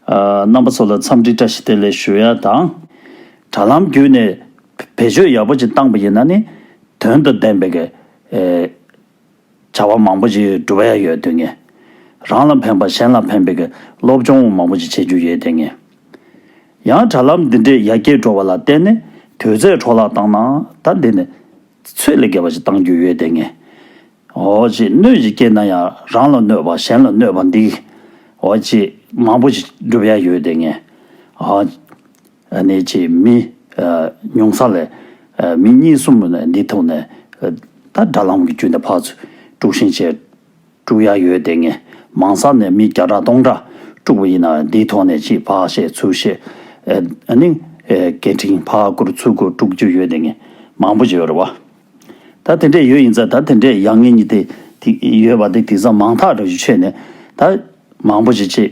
རྣམ་པ་ཚོ་ལ་འཚམས་འདྲི་བཀྲ་ཤིས་བདེ་ལེགས་ཞུ་ཡ་དང། དྲ་ལམ་བརྒྱུད་ནས་བེད་སྤྱོད་ཡག་པོ་ཅིག་བཏང་པ་ཡིན་ན་ནི་དོན་དང་ལྡན་པའི། བྱ་བ་མང་པོ་ཞིག་སྒྲུབ་པ་ཡང་ཡོད་དོན་ངེས། རང་ལ་ཕན་པ་གཞན་ལ་ཕན་པའི་སློབ་སྦྱོང་མང་པོ་ཞིག་བྱེད་རྒྱུ་ཡོད་དོན་ངེས། ཡང་དྲ་ལམ་འདི་འདྲའི་ཡར་རྒྱས་འགྲོ་བ་ལ་བརྟེན་ནས་དུས་ཚོད་འཕྲོ་བརླག་བཏང་ན་ད་འདི་ནས་ཚོད་ལས་བརྒལ་བ་ཞིག་བཏང་རྒྱུ་ཡོད་དོན་ངེས། འོ་ཅི་གནོད་ཅིག་སྐྱེས་ན་ཡང་རང་ལ་གནོད་པ་གཞན་ལ་གནོད་པ་འདིའོ་ཅི་མང་པོ་ཞིག་སྒྲུབ་ཡ་ཡོད་དོན་ངེས། གནས་ཀྱི་མི། མྱོང་ས་ལས། མི་གཉིས་གསུམ་འདི་ཐོག་ནས། ད་དགྲ་ལམ་གྱི་བཅུད་འདི་འཕགས། དཀྲུགས་ཤིང་བྱས། དཀྲུགས་ཡ་ཡོད་དེ་ངས། མང་ས་ནས་མི་བརྒྱ་ཕྲག་སྟོང་ཕྲག། དཀྲུགས་པ་ཡིན་ན་འདི་ཐོག་ནས་ཅི་འཕགས་ཞེས་ཚུལ་བཤད། ནི། སྐད་འཕྲིན་ཕག་སྐུར་ཚུར་སྐུར་དཀྲུགས་རྒྱུ་ཡོད་དེ་ངས། མང་པོ་བྱས་རོ། ད་དེ་འདྲས་ཡོད་ཡིན་ཚ་ད་དེ་འདྲས་ཡ་ངས་ནི་དེ། ཡོད་པ་དེ་དེང་སང་མང་ཐག་རེ་བཞུ་ཆད་ནས། ད། མང་པོ་བྱེད་ཅེས།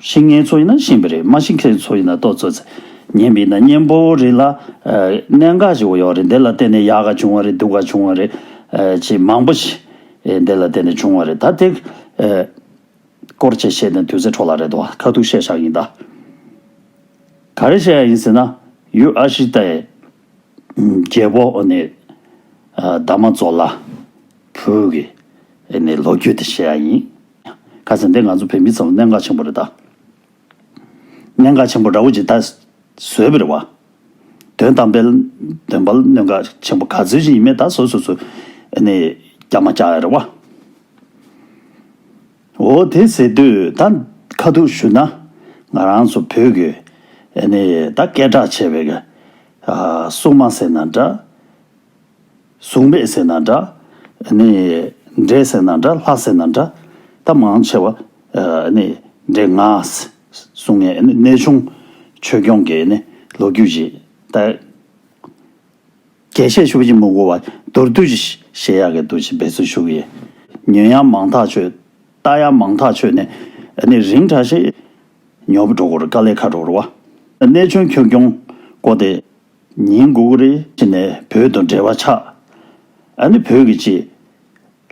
ཤིང་ངན་ཚོ་ཡིན་ན་ཤིང་བི་རི་མ་ཤིང་ཁེར་ཚོ་ཡིན་ན་ཏོག་ཚོ་ཚེ་ངན་བི་ན་གཉེན་པོ་རི་ལ་གནད་འགག་ཞིག་ཡོད་རེད་འདི་ལ་བརྟེན་ནས་ཡག་ག་བྱུང་བ་རེད་སྡུག་ག་བྱུང་བ་རེད་ཅེས་མང་པོ་ཞིག་འདི་ལ་བརྟེན་ནས་བྱུང་བ་རེད་ད་དེ་སྐོར་ཅེས་བཤད་ནས་དུས་ཚོད་འཕྲོ་ལ་རེད་དོ་ཁ་ཐུག་བཤད་བཞག་ཡིན་ད། ག་རེ་བཤད་ཡ་ཡིན་ཟེར་ན་ཡུལ་ཨ་ཤི་ཏའི་རྒྱལ་པོ་ནི་ད་མ་ཛོ་ལ་བོད་ཀྱི་ནི་ལོ་རྒྱུས་དེ་བཤད་ཡ་ཡིན། ཁ་ཟེར་འདི་ང་ཚོ་བོད་མི་ཚོར་གནད་འགག་ཆེན་པོ་རེད་ད། གནད་འགག་ཆེན་པོ་འདྲ་བོ་ཅིག་ད་བཟོས་པ་རེད་བ། དོན་དམ་པའི་འདོན་པ་གནད་འགག་ཆེན་པོ་ག་ཚོད་ཅིག་ཡིན་མེད་ད་བཟོ་བཟོ་བཟོ་ནས་རྒྱག་མ་རྒྱག་རེད་བ། འོ་དེ་ཟེར་དུས་ད་ཁ་ཐུག་ཞུ་ན། ང་རང་ཚོ་བོད་ཀྱི་ནི་ད་སྐད་གྲགས་ཆེ་བའི་གསུངས་མ་ཟེར་ན་འདྲ། གཟུགས་མེད་ཟེར་ན་འདྲ། ནི། འདྲེ་ཟེར་ན་འདྲ་ལྷ་ཟེར་ན་འདྲ། ད་མང་ཆེ་བ། ནི། འདྲེ། ང། གཟུགས་མེད། གནས་ཆུང། ཆོས་སྐྱོང་གི། ནི། ལོ་རྒྱུས་ཀྱི། ལྟ། རྒྱས་བཤད་ཤུགས་ཀྱིས་མི་གོ་བ། མདོར་བསྡུས་ཀྱི། བཤད་ཡག་གི་འདུག་ཅེས་འབད་བརྩོན་ཞུ་གི་ཡིན། ཉོན་ཡང་མང་ཐག་ཆོད། ལྟ་ཡང་མང་ཐག་ཆོད། ནི། ནི། རིང་གྲགས་ཤིང། ཉོབ། འགྲོ་འགོར་དཀའ་ལས་ཁ་དྲོ་བ། གནས་ཆུང་ཆོས་སྐྱོང། བསྐོ་སྟེ། ཉིན་དགུ་དགུ་རེ་ཕྱིན་ནས་བོད་དང་འབྲེལ་བ་ཆགས། ཨ་ནི་བོད་ཀྱི་ཅེས།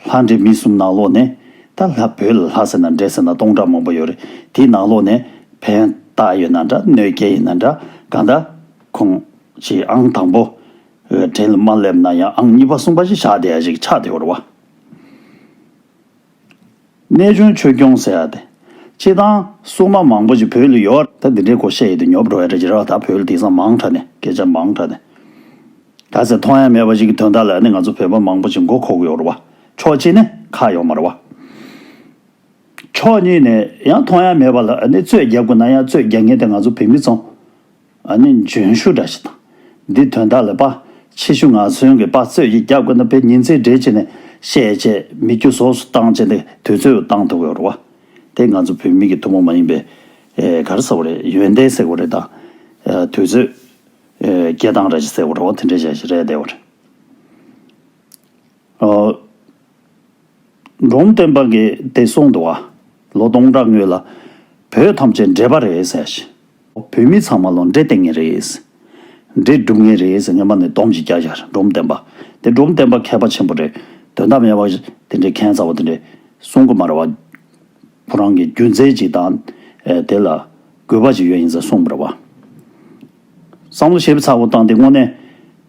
ལྷ་འདྲེ་མི་གསུམ་ནང་ལོགས་ནས་ད་ལྷ་བོད་ལ་ལྷ་ཟེར་ན་འདྲེ་ཟེར་ན་སྟོང་ཕྲག་མང་པོ་ཡོད་རེད་དེ་ནང་ལོགས་ནས་ཕན་བཏགས་ཡོད་ན་འདྲ་གནོད་སྐྱེལ་ཡིན་ན་འདྲ་གང་ལྟ། ཁོང་ཅེས་ཨང་དང་པོ་འདྲེ་ལ་མ་སླེབས་ན་ཡང་ཨང་གཉིས་པ་གསུམ་པ་ཞེས་བྱ་དེ་ཡ་ཞིག་ཆགས་དེ་འོར་བ། གནས་ཆུང་ཆོས་སྐྱོང་ཟེར་ཡ་དེ། སྤྱི་བཏང། སྲུང་མ་མང་པོ་ཅིག་བོད་ལ་ཡོད། ད་འདི་འདྲའི་སྐོར་བཤད་ཡི་དུས་ཉོབ་འགྲོ་བས་འདྲ་ཇི་ར་བ་ད་བོད་ལ་དེང་སང་མང་དྲག་ནས་སྐད་ཆ་མང་དྲག་ནས། ག་ཟེ་མཐོང་ཡ་མེད་པ་ཅིག་གི་དོན་དག་ལ་ནི་ང་ཚོ་བོད་པ་མང་པོ་ཅིག་མགོ་ཁོག་གི་ཡོག་ར་བ། ཕྱོགས་གཅིག་ནས་ཁག་ཡོག་མ་ར་བ། ཕྱོགས་གཉིས་ནས་ཡང་མཐོང་ཡ་མེད་པ་ལ་ནི་རྩོད་རྒྱག་དགོས་ན་ཡང་རྩོད་རྒྱག་ངེས་དེ་ང་ཚོ་བོད་མི་ཚོ། ཨ་ནི་འཇོན་ཤུགས་འདྲ་ཞིག་དང། འདི་དོན་དག་ལས་དཔའ་ཆེ་ཤུགས་ང་མཚོན་གྱི་དཔའ་རྩོད་ཀྱི་རྒྱབ་ཀྱི་ན་བའི་ཉིན་མཚན་སྦྲེལ་བྱས་ནས་བཤད་བྱས་མི་རྒྱུ་ཟོག་སུ་བཏང་བྱས་ཏེ་དུས་ཚོད་བཏང་ཐུབ་ཡོད་རུང་བ། དེ་ང་ཚོ་བོད་མི་གྱི་ཐུ་མོ་མ་ཡིན་པའི་གར་ཟེར་བ་རེད་ཡོན་ཏན་ཟེར་བ་རེད་དང། དུས་ཚོད། སྐྱེ་སྟངས་ར་བཞི་ཟེར་བ་རུང་བ་དེ་འདྲའི་བྱ་བཞི་རེད་བསྡད་བ་རེད། འབྲོམ་སྟོན་པ་འགས་དེ་སྲུང་འདུག་ཨ། ལོ་སྟོང་ཕྲག་སྔོན་ལ། བོད་ཐམས་ཅད་འདྲེས་པ་རེད་ཟེར་ཞིང། བོད་མི་ཚང་མ་ལོ་འདྲེ་སྟེར་ངེས་རེད། འདྲེ་སྒྲུབ་ངེས་རེད་ཟེར་ངན་པ་ནས་སྡོམ་གཅིག་རྒྱག་བཞག་རེད་འབྲོམ་སྟོན་པ། དེ་འབྲོམ་སྟོན་པ་མཁས་པ་ཆེན་པོ་རེད། དོན་དམ་ཡ་བ། དེ་འདྲའི་མཁན་རྩ་བ་དེ་འདྲས་གསུང་གི་མ་རེད་བ། བུ་རང་གིས་རྒྱུ་མཚན་གཅིག་དང། དེ་ལ། དགོས་པ་ཅིག་ཡོད་ཡིན་ཟེར་གསུང་མི་རེད་བ། བསམ་བློ་ཞིབ་ཚགས་པོ་བཏང་སྟེ་དངོས་གནས།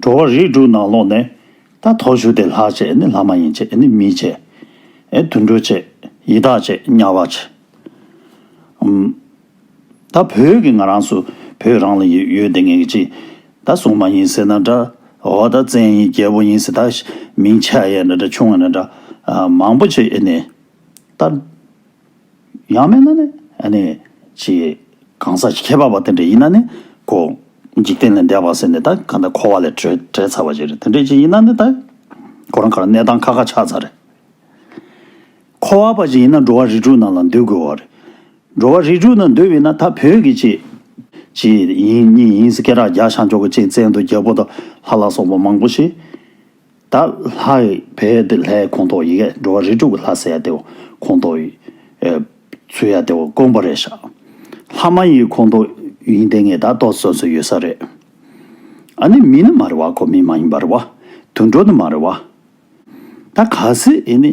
འགྲོ་བ་རིགས་དྲུག་ནང་ལོགས་ནས། ད་དོག་ཞུ་དེ་ལྷག་བྱེད་ནི་ལྷ་མ་ཡིན་བྱེད་ནི་མི་བྱེད། ཨེ་དུད་འགྲོ་བྱེད་ཡི་དྭགས་བྱེད་དམྱལ་བ་བྱེད། ཨམ། ད་བོད་ཀྱི་ང་རང་སུ་བོད་རང་ལ་ཡོད་ཡོད་དེ་ངེད་ཀྱི་ཅི། ད་སྲུང་མ་ཡིན་ཟེར་ན་འདྲ། འོ་ད་བཙན་ཡིན་རྒྱལ་པོ་ཡིན་ཟེར་ད་མིང་ཆ་ཡས་ན་འདྲ་ཆུང་ཡས་ན་འདྲ། མང་པོ་བྱེད་ཨེ་ནི། ད། ཡང་མེད་ན་ནི། ཅེས་གང་ཟག་གི་ཁྱད་པར་བ་དེ་འདྲ་ཡིན་ན་ནི་གོ། འཇིག་རྟེན་ལས་འདས་པར་ཟེར་ནས་ད་ག་ད་འཁོར་བ་ལས་བྲལ་ཚར་བ་ཞིག་རེད་དེ་འདྲའི་ཅིག་ཡིན་ན་ནི་ད། ཁོ་རང་ག་རང་གནས་སྟངས་ཁ་ཁ་ཆགས་ཚར་རེད། འཁོར་བ་བ་ཞིག་ཡིན་ན་འགྲོ་བ་རིགས་དྲུག་ནང་ལ་འདུས་དགོས་བ་རེད། འགྲོ་བ་རིགས་དྲུག་ནང་འདུས་བས་ན་ད་བོད་ཀྱི་ཅེས། ཅེས་ཡིན་གཉིས་ཡིན་ཟེར་སྐད་གྲགས་རྒྱ་ཤ་མགྱོགས་ཀྱི་ཅིག་བཙལ་འདུག་རྒྱལ་པོ་དང་ལྷ་ལ་སོགས་པ་མང་པོ་ཞིག། ད་ལྷའི་བས་དེ་ལྷའི་ཁོང་ཐོག་ཡི་གེ་འགྲོ་བ་རིས་དྲུག་གི་ལྷ་ཟེར་ཡ་དེའོ་ཁོང་ཐོག་ཡི། ཚུལ་ཡ་དེའོ་དཀོན་པོ་རེད་བཞག། ལྷ་མ་ཡི་ཁོང་ཐོག་ཡིན་དེ་ངས་ད་རྟོགས་བཟོས་སུ་ཡོད་ས་རེད། ཨ་ནི་མི་ནི་མ་རེད་བ་ཁོ་མི་མ་ཡིན་པ་རེད་བ། དུད་འགྲོ་ནི་མ་རེད་བ། ད་ག་ཟེ་ཨེ་ནི།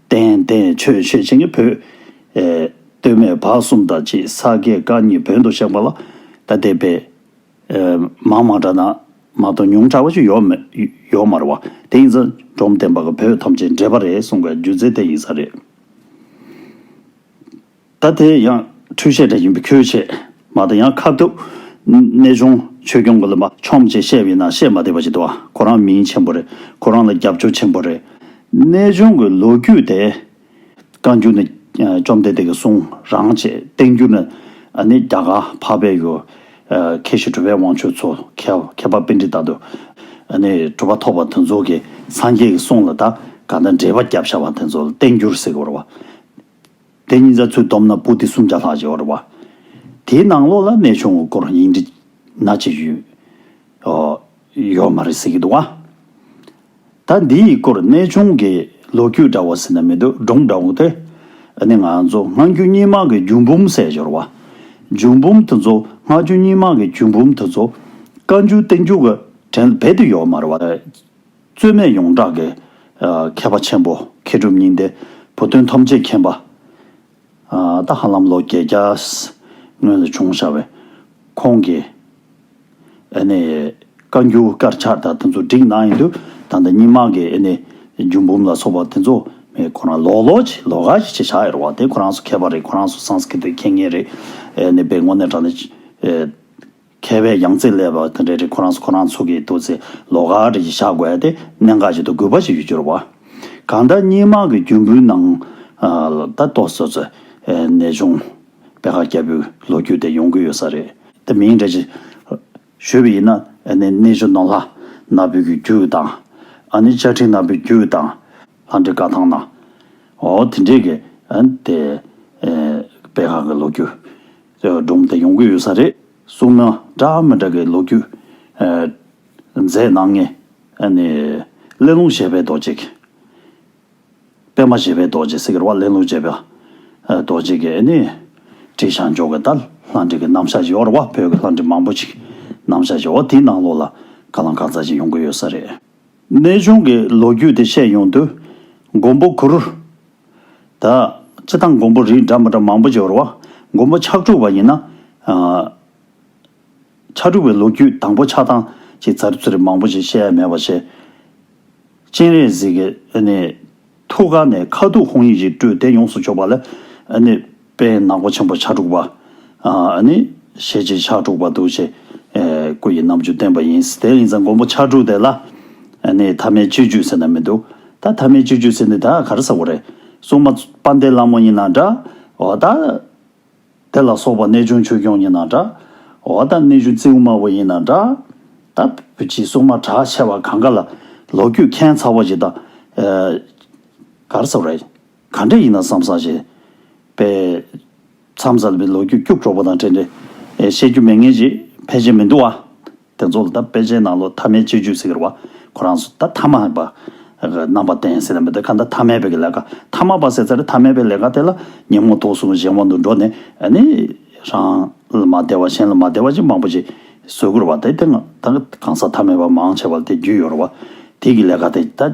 བསྟན། བསྟན་ཆོས་བཤད་བྱེད་ཀྱི་བུ། སྟོད་སྨད་བར་གསུམ་དང་བཅས་ས་དགེ་བཀའ་གཉིས་བོད་དུ་བཤགས་པ་ལ་ད་ལྟའི་བས། མང་མང་འདྲ་ན་མ་གཏོགས་ཉུང་དྲག་པ་ཅིག་ཡོག་མེད་ཡོག་མ་རེད་བ། དེ་ཡིན་ཚ་འབྲོམ་བསྟན་པ་གི་བུ་ཐམས་ཅད་འདྲེས་པ་རེད་གསུངས་པའི་སྒྱུ་རྩལ་དེ་ཡིན་ས་རེད། ད་དེ་ཡང་འཕྲུལ་ཆས་འདྲ་ཡིན་པས་ཁྱོད་ཆེད་མ་དང་ཡང་ཁ་བརྡབ། གནས་ཆུང་ཆོས་སྐྱོང་གི་ལ་མ་ཆོམ་ཅེས་བཤད་པའི་ནང་བཤད་མ་དེ་བ་ཞིག་འདུག་ཁོ་རང་མིང་ཆེན་པོ་རེད་ཁོ་རང་ལ་རྒྱབ་སྐྱོར་ཆེན་པོ་རེད། གནས་ཆུང་གི་ལོ་རྒྱུས་དེ། བཀའ་འགྱུར་ནི་བཅོམ་ལྡན་འདས་ཀྱི་གསུང་རང་ཅེས་བསྟན་འགྱུར་ནི་ནི་རྒྱ་གར་འཕགས་པའི་ཡུལ། མཁས་ཤིང་གྲུབ་པའི་དབང་ཕྱུག་ཚོ་མཁས་པ་དཔེ་འདྲི་ལྟ་དུ། ནི་གྲུབ་པ་ཐོབ་པ་དེ་ཚོ་གི་སངས་རྒྱས་ཀྱི་གསུང་ལ་ད་ག་ད་འགྲེལ་པ་བརྒྱབ་བཞག་པ་དེ་ཚོ་ལ་བསྟན་འགྱུར་ཟེར་གི་རེད་བ། དེ་གཉིས་རྫ་ཆུ་འདོམ་ན་སྤུ་དེ་སུམ་བརྒྱ་ལྷག་བཞེས་བར་བ། དེའི་ནང་ལོགས་ལ་གནས་ཆུང་ངུ་སྐོར་ཡིག་འབྲི། ན་ཅི་ཡོད། ཡོད་མ་རེད་ཟེར་གྱི་འདུག་ཨ། ད་འདིའི་སྐོར་གནས་ཆུང་གི་ལོ་རྒྱུས་འདྲ་བོ་ཟེར་ན་མི་འདུག་སྒྲུང་འདྲ་བོ་དེ་ནི་ང་ཚོ་སྔ་འགྱུར་རྙིང་མ་གི་རྒྱུད་འབུམ་གསལ་འབྱོར་བ། རྒྱུད་འབུམ་དེ་ཚོ་སྔ་འགྱུར་རྙིང་མ་གི་རྒྱུད་འབུམ་དེ་ཚོ་བཀའ་འགྱུར་བསྟན་འགྱུར་གྱི་དྲན་བེད་དུ་ཡོད་མ་རེད་བ། རྩོལ་མེད་ཡོངས་གྲགས་ཀྱི། མཁས་པ་ཆེན་པོ་མཁས་གྲུབ་སྙིང་ལྡན། བུ་སྟོན་ཐམས་ཅད་མཁྱེན་པ། ཏཱ་ཧ་ལམ་ལོ་བརྒྱད་བརྒྱ། སྔོན་ལ་བྱུང་བྱ་བའི། ཁོང་གི། ཨེ་ནས། བཀའ་འགྱུར་དཀར་ཆག་དག་དེ་ཚོ་བསྒྲིགས་གནང་ཡོད་དུས་ད་ལྟ་རྙིང་མ་གི་ཨེ་ནས། རྒྱུད་འབུམ་ལ་སོགས་པ་དེ་ཚོ་མེད་ཁོ་རང་ལོག་ལོག་ཅིག་ལོག་ཀ་ཞིག་བྱེད་བཞག་ཡོད་རེད་བ་དེ་ཁོ་རང་ཚོ་མཁས་པ་རེད་ཁོ་རང་ཚོ་སངས་སྐིད་དུ་མཁྱེན་ངེས་རེད་ཨེ་ནས་པའི་དངོས་གནས་དྲ་ནས། མཁས་པའི་ཡང་རྩེ་ཀླད་པ་དེ་འདྲ་རེ་ཁོ་རང་ཁོ་རང་ཚོ་གི་ཏུ་ཚེ་ལོ་ག་རེ་བཞག་དགོས་ཏེ་གནད་འགག་ཅིག་ཏུ་གུས་པ་ཞིག་ཡོད་འགྱུར་བ། གང་ལྟར་སྙིང་དམངས་ཀྱི་རྒྱུ་འབུལ་ནང་ལ་ད་གཏོགས་སོ་སོའི་གནས་ཆུང་དཔལ་ཁ་སྐྱ་བུའི་ལོ་རྒྱུས་དེ་ཡོང་གི་ཡོད་ས་རེད། དེ་མིན་འགྲེལ་བྱེད་ཞུས་པ་ཡིན་ན་གནས་ཆུང་ནོར་ལྷ་ནག་པོའི་གི་རྒྱུ་དང། ཨ་ནི་ལྕགས་ཁྲི་ནག་པོའི་རྒྱུ་དང། ལྷ་འདྲེ་བཀའ་ཐང་ནའོ་དེ་འདྲས་ཀྱི་དེ་དཔལ་ཁ་གི་ལོ་རྒྱུས་སྒྲོམ་དེ་ཡོང་གི་ཡོད་ས་རེད་གསུངས་ན་འདྲ་མི་འདྲ་གི་ལོ་རྒྱུས་མཛད་གནང་ངེས། གླེང་སློང་བྱས་པའི་རྡོ་རྗེ། སྤེལ་མ་བྱས་པའི་རྡོ་རྗེ་ཟེར་གི་རོགས་གླེང་སློང་བྱས་པའི་རྡོ་རྗེ་གི་ནི་བྲིས་བྱང་འཇོག་གི་ལྟར་ལྷ་འདྲེ་གི་རྣམ་གཞག་ཞིག་འོར་བ་བོད་ཀྱི་ལྷ་འདྲེ་མང་པོ་ཞིག་རྣམ་གཞག་ཞིག་འོ་དེའི་ནང་ལོགས་ལ་དགའ་ལངས་གང་ཚ་ཞིག་ཡོང་གི་ཡོད་ས་རེད། གནས་ཆུང་གི་ལོ་རྒྱུས་དེ་བཤད་ཡོང་དུས་མགོན་པོ་གུ་རུ། ད། སྤྱི་དང་མགོན་པོ་རིགས་འདྲ་མི་འདྲ་མང་པོ་སྦྱོར་བ། མགོན་པོ་ཕྱག་དྲུག་པ་ཡིན་ན། ཕྱག་དྲུག་པའི་ལོ་རྒྱུས་དང་པོ་ཆགས་སྟངས་ཀྱི་ཚར་ཚུད་རིགས་མང་པོ་ཞིག་བཤད་ཡ་མེད་པར་བཤད། སྤྱན་རས་གཟིགས། ཐུགས་ཀ་ནས་ཁ་ཐུག་ཧོང་ཡིག་ཅིག་སྤྲོས་ཏེ་ཡོངས་སུ་ཕྱོགས་པ་ལ། པས་ནག་པོ་ཆེན་པོ་ཕྱག་དྲུག་པ། ནི། ཞེས་བྱའི་ཕྱག་དྲུག་པ་འདུ་བྱེད། སྐུ་ཡི་རྣམ་འགྱུར་བསྟན་པ་ཡིན། དེ་ཡིན་ཙང་མགོན་པོ་ཕྱག་དྲུག་དེ་ལ། ནི། ཐ་མའི་སྤྱོད་རྒྱུད་ཟེར་ན་མི་འདུག། ད་ཐ་མའི་སྤྱོད་རྒྱུད་ཟེར་འདི་དག་གར་ཟ་བོ་རེད། སྲུང་མ། པཎ་ཏའི་ལྷ་མོ་ཡིན་ན་འདྲ། འོ་ད། དེ་ལ་སོགས་པ་རྣལ་འབྱོར་ཆོས་སྐྱོང་ཡིན་ན་འདྲ། འོ་ད་གནས་གཞུང་རྩེའུ་དམར་བོ་ཡིན་ན་འདྲ། ད། བུ་ཁྱིའི་སྲུང་མ་གྲགས་ཆེ་བ་གང་ག་ལ། ལོ་རྒྱུས་མཁན་ཚ་བོ་ཞིག་དང། གར་ཟ་བོ་རེད། ག་འདྲ་ཡིན་ན་བསམ་བསམ་བྱས། པས། མཚམས་བཟའ་བའི་ལོ་རྒྱུས་སྐྱུག་བྲོ་བོ་དང་འབྲེལ་འབྲེལ། བཤད་རྒྱུ་མེད་ངེས་ཅི། ཕལ་ཆེར་མི་འདུག་བ། དེ་ཚོ་ལ་ད་དཔེ་ཆའི་ནང་ལོ་ཐ་མའི་སྤྱོད་རྒྱུད་ཟེར་བ། ཁོ་རང་ཚོ་ད་ཐ་མ་པ། རྣམ་པ་བསྟན་ཟེར་ན་མི་འདོད་ཁ་ད་ཐ་མལ་པའི་གི་ལས་ཀ་ཐ་མ་པ་ཟེར་ཚར་ཐ་མལ་པའི་ལས་ཀ་དེ་ལ་ཉིན་མོ་ཐོག་སོང་གཞན་དབང་དུ་འགྲོ་ནས་ནི། རང། ལ་མ་བདེ་བ་གཞན་ལ་མ་བདེ་བ་ཅིག་མང་པོ་ཅིག། བཟོས་དགོས་ར་བ་དེ་དེ་ང་ད་གང་ཟག་ཐ་མལ་པ་མང་ཆེ་བ་ལ་དེ་རྒྱུས་ཡོད་ར་བ། དེ་གི་ལས་ཀ་དེ་ད།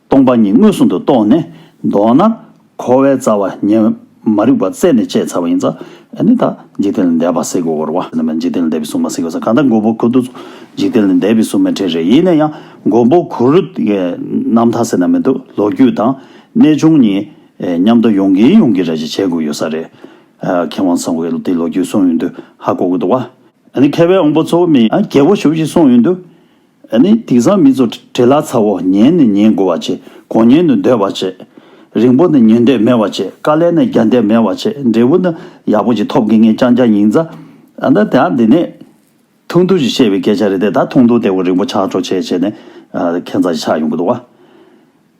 སྟོང་པ་ཉིད་མངོན་སུམ་དུ་རྟོགས་ནས་མདོར་ན། འཁོར་བའི་རྩ་བ་ཉིད་མ་རིག་པ་རྩད་ནས་བཅད་ཚར་བ་ཡིན་ཙང་ནི་དག། འཇིག་རྟེན་ལས་འདས་པ་སྲིད་འགོར་བ། འཇིག་རྟེན་ལས་འདས་པའི་སྲུང་མ་སྲིད་འགོར་ས་གང་དག་མགོན་པོ་གུ་རུ། འཇིག་རྟེན་ལས་འདས་པའི་སྲུང་མའི་གྲས་རེ་ཡིན་ན་ཡང་མགོན་པོ་གུ་རུ། རྣམ་ཐར་ཟེར་ན་མི་འདུག་ལོ་རྒྱུས་དང། གནས་ཆུང་གཉིས། མཉམ་དུ་ཡོང་གིན་ཡོང་གིན་རེ་ཞིག་བྱེད་དགོས་ཡོད་ས་རེད། མཁས་དབང་ཚང་གིས་དེ་ལོ་རྒྱུས་གསུངས་ཡོད་འདུག་ཧ་གོ་གི་འདུག་བ། མཁས་པའི་དབང་པོ་ཚོ་མི། རྒྱལ་པོ་ཞུ་བཞིན་གསུངས་ཡོད་འདུག། ཨ་ནི་དིང་སང་མི་ཚོ་བྲེལ་ལ་ཚ་བོ་ཉལ་ནས་ཉལ་དགོས་བ་བྱེད་གོང་ཉལ་ནས་སྡོད་བ་བྱེད། རིང་པོ་ན་ཉལ་འདོད་མེད་བ་བྱེད་དཀའ་ལས་ན་རྒྱག་འདོད་མེད་བ་བྱེད་འབྲས་བུ་ན་ཡག་པོ་ཅིག་ཐོབ་གི་ངས་ཅང་ཅང་ཉིང་རྩ། ཨ་ན་དེ་ཨ་འདི་ནས། ཐུང་ཐུང་ཞིག་བཤད་པའི་སྐད་ཆ་རེད་དེ་ད་ཐུང་ཐུང་སྟེ་བོ་རིང་པོ་ཆགས་ཆོག་བྱས་བྱས་ནས་ཨ་ཁན་ཚ་ཞིག་ཆགས་ཡོང་གི་འདུག་བ།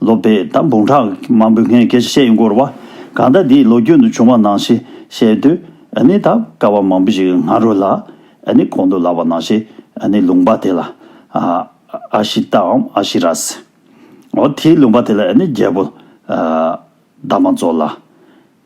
ལོ་པས་ད་འབུངས་ཁྲག་མང་པོའི་ངས་སྐད་ཆ་བཤད་ཡོང་གི་རེད་བ། གང་ལྟར་འདི་ལོ་རྒྱུས་ནང་བྱུང་བ་ནང་ཞེས་བཤད་དུས་ནི་ད་སྐལ་བ་མང་པོ་ཞིག་ང་རོ་ལ་ནི་གོ་འདུག་ལབ་བ་ནང་ཞེས་ནི་ལུང་པ་དེ་ལ་ཨ་ཤི་ཏའམ་ཨ་ཤི་རཱས། འོ་དེའི་ལུང་པ་དེ་ལ་ནི་རྒྱལ་པོ་ད་མ་རྫོགས་ལ།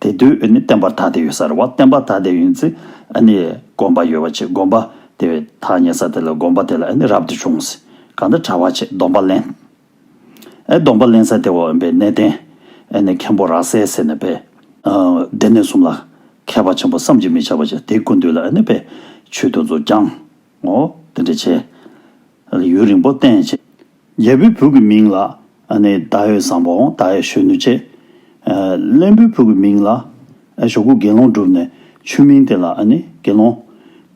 དེ་དུས་བསྟན་པར་ཐ་དད་ཡོད་ས་རེད་བ་བསྟན་པར་ཐ་དད་ཡིན་ཚེ་དགོངས་པ་ཡོད་བ་ཆེ་དགོངས་པ་དེ་བས་ཐ་སྙད་ས་དེ་ལ་དགོངས་པ་དེ་ལ་རབ་ཏུ་བྱུང་ཟེར་གང་འདྲ་གྲ་བ་ཆེ་སྡོམ་པ་ལེན་སྡོམ་པ་ལེན་ས་དེ་བ་འོན་པའི་གནས་བརྟན་མཁན་པོ་ར་སའི་སེ་ན་དཔལ་སྡེ་སྣོད་གསུམ་ལ་མཁས་པ་ཆེན་པོ་བསམ་གྱིས་མི་ཁྱབ་པ་ཆེ་དེ་ཀུན་འདུས་ལ་དཔལ་ཆོས་དུ་མཚོ་བསྐྱང་ངོ་དེ་འདྲ་བྱས། ཡུན་རིང་པོ་བརྟེན་བྱས། རྒྱལ་པོའི་བུ་གི་མིང་ལ་ནི་ད་ཡོད་བཟང་པོ་འོང་ད་ཡོད་གཞོན་ནུ་ཆེ། བློན་པོའི་བུ་གི་མིང་ལ་ཞོ་ཁུ་དགེ་སློང་བསྒྲུབས་ནས་ཆུ་མིང་དེ་ལ་ནི་དགེ་སློང།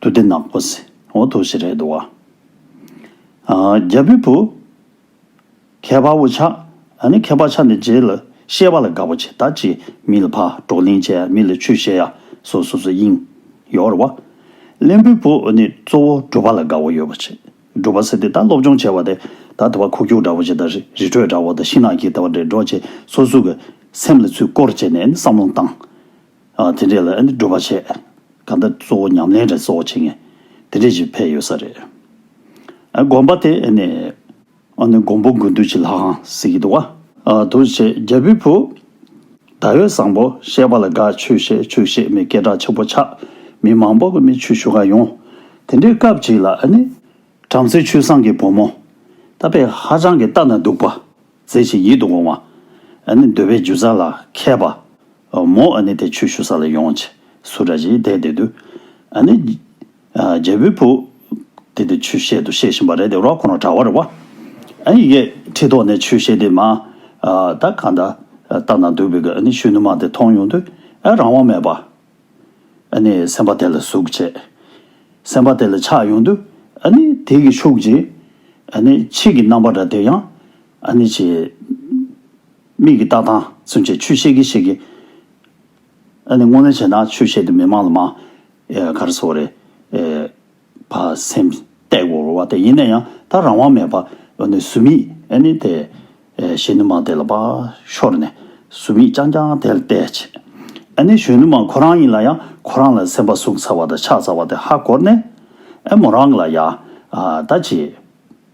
དུ་སྡེ་ནག་པོ་སི་འོ་དོ་ཞེས་རེད་འདུག་བ། རྒྱལ་པོའི་བུ། ཁྱད་པར་བུ་ཆ། ནི་ཁྱད་པར་ཆ་ནི་རྗེས་ལ་ཤེས་པ་ལ་དགའ་བ་ཇི་ལྟར་ཅི། མི་ལ་ཕ་གྲོགས་གླིང་བཅས་མི་ལ་ཆོས་བཤད་ཡ། སོ་སོ་སོའི་དབྱིངས། ཡོར་བ། གླེན་པོའི་བུ་ནི་གཙོ་བོ་སྒྲུབ་པ་ལ་དགའ་བ་ཡོད་པ་ཆེ། སྒྲུབ་པ་སེ་དེ་ལྟར་སློབ་སྦྱོང་བྱེད་པ་དེ་ལྟར་དེ་བ་ཁུག་ཁྱུག་འདྲ་བོ་ཇི་ལྟར་རི་རི་ཁྲོད་འདྲ་བོ་དང་ཤིང་ནགས་ཀྱི་དེ་བ་འདྲེ་སྒྲོག་བཅས་སོ་སོའི་གི། སེམས་ལ་ཚུལ་བསྐོར་བྱས་ནས་ནི་བསམ་བློ་བཏང། དེ་འདྲས་ལ་ནི་སྒྲུབ་པ་བྱས། གང་ལྟར་གཙོ་བོ་ཉམས་ལེན་དེ་གཙོ་བོ་བྱེད་ངེས། དེ་འདྲས་ཀྱི་ཕས་ཡོད་ས་རེད། དགོན་པ་དེ་ནི། ཨ་ནི་འགོང་པོ་དགུ་འདུལ་བྱེད་ལྷ་ཁང་གཟིགས་ཀྱི་འདུག་བ། འདུལ་བྱེད་རྒྱལ་པོའི་བུ། ད་ཡོད་བཟང་པོ་ཤེས་པ་ལ་དགའ་ཆོས་བཤད་ཆོས་བཤད་མི་སྐད་གྲགས་ཆེན་པོ་ཆགས། མི་མང་པོ་མི་ཆོས་ཞུ་ག་ཡོང། དེ་འདྲའི་སྐབས་ཅིག་ལ་ཨ་ནི། བྲམ་ཟེ་ཆུ་བཟང་གི་བུ་མོ། ད་པས་ཧ་ཅང་གི་ལྟ་ན་སྡུག་པ། མཛེས་ཤིང་ཡིད་དུ་འོང་བ། ཨ་ནི་འདོད་པའི་རྒྱུ་ཟ་ལ་མཁས་པ། མོ་ཨ་ནི་དེ་ཆོས་ཞུ་ས་ལ་ཡོང། ཆུ་ར་བཞིའི་དེད་དེ་དུས། ཨ་ནི། རྒྱལ་པོའི་བུ། དེ་དེ་ཆོས་བཤད་དུ་བཤད་བཞིན་པ་རེད་དེ་རོགས་ཁོང་ལ་གྲྭ་བར་བ། ཨ་ཡི་གེ་ཁྲི་ཐོག་ནས་ཆོས་བཤད་དེ་མ། ད་ག་ད་ལྟ་ན་འདུག་པའི་གནས་ཤུལ་ནུ་མ་དེ་མཐོང་ཡོང་དུས་ཨ་རང་དབང་མེད་པ། ཨ་ནི་སེམས་པ་དེ་ལ་ཟུག་བྱས། སེམས་པ་དེ་ལ་ཆགས་ཡོང་དུས་ཨ་ནི་དེ་གི་ཤུགས་ཀྱིས། ཨ་ནི་ཕྱིས་ཀྱི་རྣམ་པ་འདྲ་དེ་ཡང་ཨ་ནི་ཕྱིས། མིག་གི་ལྟ་སྟངས་ཚུན་ཆད་ཆོས་བཤད་གི་བཤད་གི། ཨ་ནི་དངོས་གནས་བྱས་ན་ཆོས་བཤད་དེ་མི་མང་ལ་མ་གར་སོ་རེད་བ་སེམས་སྟེགས་བོར་བ་དེ་ཡིན་ན་ཡང་ད་རང་དབང་མེད་པ་ཨོ་ནི་ཟུར་མིག་ཨེ་ནི་དེ་གཞན་ནུ་མང་དེ་ལ་བ་ཤོར་ནས་ཟུར་མིག་རྐྱང་རྐྱང་དེ་ལ་བལྟས་བྱས་ཨེ་ནི་གཞོན་ནུ་མང་ཁོ་རང་ཡིན་ལ་ཡང་ཁོ་རང་ལ་སེམས་པ་ཟུག་ཚར་བ་དང་ཆག་ཚར་བ་དེ་ཧ་གོ་ནས་ཨེ་མོ་རང་ལ་ཡ་ད་ཅི།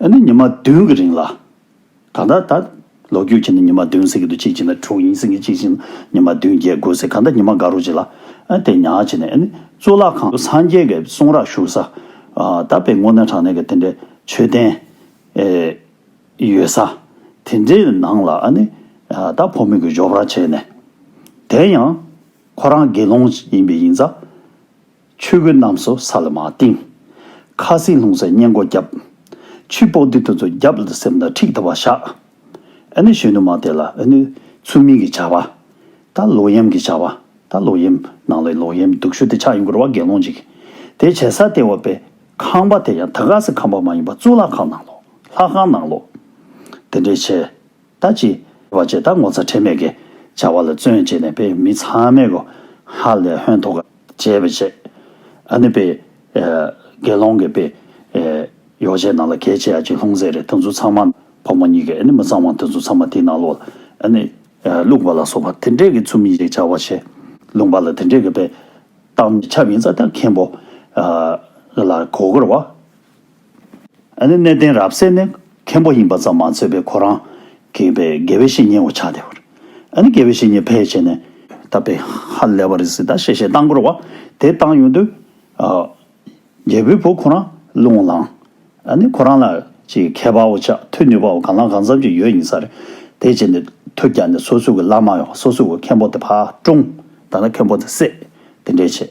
ཨ་ནི་ཉི་མ་བདུན་གྱི་རིང་ལ། གང་ལྟར་ད། ལོ་རྒྱུས་ཀྱི་ནི་ཉི་མ་བདུན་ཟེར་གྱི་འདུག་གཅིག་བྱས་ན་དྲུག་ཡིན་ཟེར་གྱི་གཅིག་བྱས་ན་ཉི་མ་བདུན་བརྒྱད་དགུ་ཟེར་གང་ལྟར་ཉི་མ་འགའ་རུ་བྱས་ལ། ཨ་དེ་ཉག་བྱས་ནས་ཨ་ནི་གཙུག་ལག་ཁང་སངས་རྒྱས་ཀྱི་གསུང་རག་བཞུགས་ས། ད་དཔེ་སྔོ་ནད་གྲང་ནད་ཀྱི་དེ་འདྲའི་མཆོད་རྟེན། ཡོད་ས། དེ་འདྲའི་ནང་ལ་ཨ་ནི། ད་ཕོ་མོས་གྱི་འཇོག་ར་བྱས་ནས། དེ་ཡང། ཁོ་རང་དགེ་སློང་ཡིན་པས་ཡིན་ཙང། ཆོས་གོས་རྣམས་སུ་ས་ལ་མ་བཏིང། ཁ་སེང་ལྷུང་བཟེད་སྙན་སྒོ་བརྒྱབ། ཆུའི་པོག་དེ་དུ་ཚོ་བརྒྱབ་ལ་སེམས་ལ་ཁྲིགས་ལྟ་བ་བཞག། ཨེ་ནི་གཞོན་ནུ་མ་དེ་ལ་ཨེ་ནི་ཚུལ་མིན་གྱི་བྱ་བ། ད་ལོག་གཡེམ་གྱི་བྱ་བ། ད་ལོག་གཡེམ། ནང་ལའི་ལོག་གཡེམ་སྡུག་ཤོས་དེ་ཆགས་ཡིན་སྐོར་བ་དགེ་སློང་གཅིག་དེ་བྱས་ས་སྟེ་འོག་པའི་ཁང་པ་དེ་ཡང་ད་ག་ཟེ་ཁང་པ་མ་ཡིན་པ་གཙུག་ལག་ཁང་ནང་ལོགས་ལྷ་ཁང་ནང་ལོགས། དེ་འདྲའི་བྱས། ད་ཅི། བ་ཅེས་ད་ངོ་ཚ་ཁྲེལ་མེད་ཀྱི་བྱ་བ་ལ་བརྩོན་ཅེས་ནས་པས་མི་ཚང་མས་གོ། ཧ་ལས་ཧོན་ཐོ་ག་བྱས་པས་བྱས། ཨ་ནི་པས། དགེ་སློང་གིས་པས། ཡོ་བྱད་ནང་ལ་གས་བྱས་ཨ་ཅིག་ལྷུང་བཟེད་རེ་ད་ཚུ་ཚང་མ། ཕོ་མོ་གཉིས་ཀས་ཨ་ནི་མི་ཚང་མ་ད་ཚུ་ཚང་མ་དེ་ནང་ལོག་ལ་ཨ་ནི། བླུགས་པ་ལ་སོགས་པ་དེ་འདྲས་ཀྱི་ཚུ་མི་ཞིག་བྱ་བ་བྱས། ལུང་པ་ལ་དེ་འདྲས་ཀྱི་པས། བཏང། ཆབ་ཡིན་ས་ད་མཁན་པོ། ལ་གོ་གོར་བ། གནས་བརྟན་རབ་གསལ་ནི་མཁན་པོ་ཡིན་པ་ཙམ་མ་ཚོས་པའི་ཁོ་རང་གིས་པའི་དགེ་བའི་བཤེས་གཉེན་འོ་ཆགས་དེ་བར་དགེ་བའི་བཤེས་གཉེན་ཕལ་ཆེ་ནས། ད་པའི་ཧ་ལས་པ་རིགས་སི་ད་ཤེས་བྱའི་སྟངས་བསྐོར་བ་དེ་བཏང་ཡོང་དུས། རྒྱལ་པོའི་བུ་ཁོ་རང་ལུང་བླང་ནི་ཁོ་རང་ལ་ཅི་མཁས་པ་འོ་ཆགས་ཐུགས་ནུས་པ་འོ་གང་ལ་གང་འཚམས་ཅིག་ཡོད་ཡིན་ས་རེད། དེ་རྗེས་ནས་ཐུགས་རྒྱ་ནས་སོ་སུ་གི་བླ་མ་ཡང་སོ་སུ་གི་མཁན་པོ་དེ་ཕ་ཀྲུང་ད་ལ་མཁན་པོ་དེ་སྲས་དེ་འདྲས་བྱས།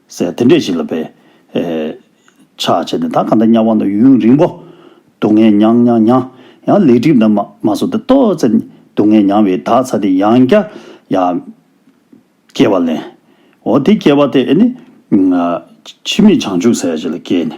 ཟེར། དེ་འདྲས་ཤིག་ལ་བས། ཆགས་བྱས་ནས་ད་ག་འདྲ་སྙམ་བ་ན་ཡུན་རིང་པོ། སྡུག་བསྔལ་མྱངས་མྱངས་མྱངས། ཡང་ལེགས་སྒྲིག་འདི་མ་མ་སོང་སྟེ་ཏོག་ཙེ། སྡུག་བསྔལ་མྱངས་བས་ད་ཚ་དེ་ཡང་བསྐྱར་ཡང། སྐྱེ་བ་ལེན། འོ་དེ་སྐྱེ་བ་དེ་ནི། འཆི་མེད་བྱང་ཆུབ་ཟེར་བ་ཞིག་ལ་སྐྱེས་ནས།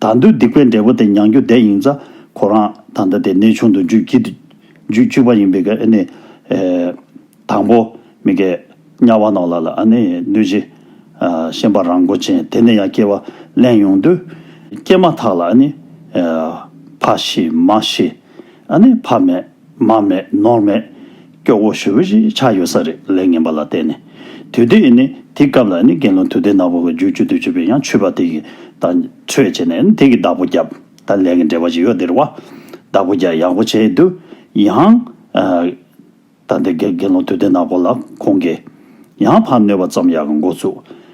ད་འདོད་སྡིག་པའི་འབྲས་བུ་དེ་མྱང་རྒྱུ་བསྡད་ཡིན་ཙང་ཁོ་རང་ད་ལྟ་དེ་གནས་ཆུང་དུ་འཇུག་ཀྱི་འཇུག་བཅུག་པ་ཡིན་པས་ཀྱི་ནི། དང་པོ། མི་ག། དམྱལ་བ་ནོར་ལ་ལ་ཨ་ནི་གནོད་སྦྱིན། ཤན་པ་རང་མགོ་ཅན་དེ་ནས་ཡང་སྐྱེ་བ་གླེང་ཡོང་དུས། སྐྱེས་མ་ཐག་ལ་ཨ་ནི། ཕ་ཤི་མ་ཤི། ཨ་ནི་ཕ་མེད། མར་མེད་ནོར་མེད། སྐྱོ་བོ་ཞུ་བོ་ཞིག་ཆགས་ཡོད་ས་རེད་ལས་ངན་པ་ལ་བལྟས་ནས། དུས་དེ་ཡིན་ནི་དེའི་སྐབས་ལ་ནི་དགེ་སློང་དུས་དེ་ནག་པོ་གི་རྒྱུག་ཆུ་དུས་ཆུ་བས་ཡང་ཆུད་པ་དེ་གི་དང་ཆོས་བྱས་ནས་ནི་དེ་གི་བདག་པོ་བརྒྱབ་ད་ལས་ཀྱི་འབྲེལ་བ་ཞིག་ཡོད་དེར་བ། བདག་པོ་བརྒྱ་ཡག་པོ་བྱས་དུས་ཡང། ད་དེ་དགེ་སློང་དུས་དེ་ནག་པོ་ལ་ཁོང་གི། ཡང་ཕར་གནོད་པ་ཙམ་ཡག་གི་འགོ་ཚུགས།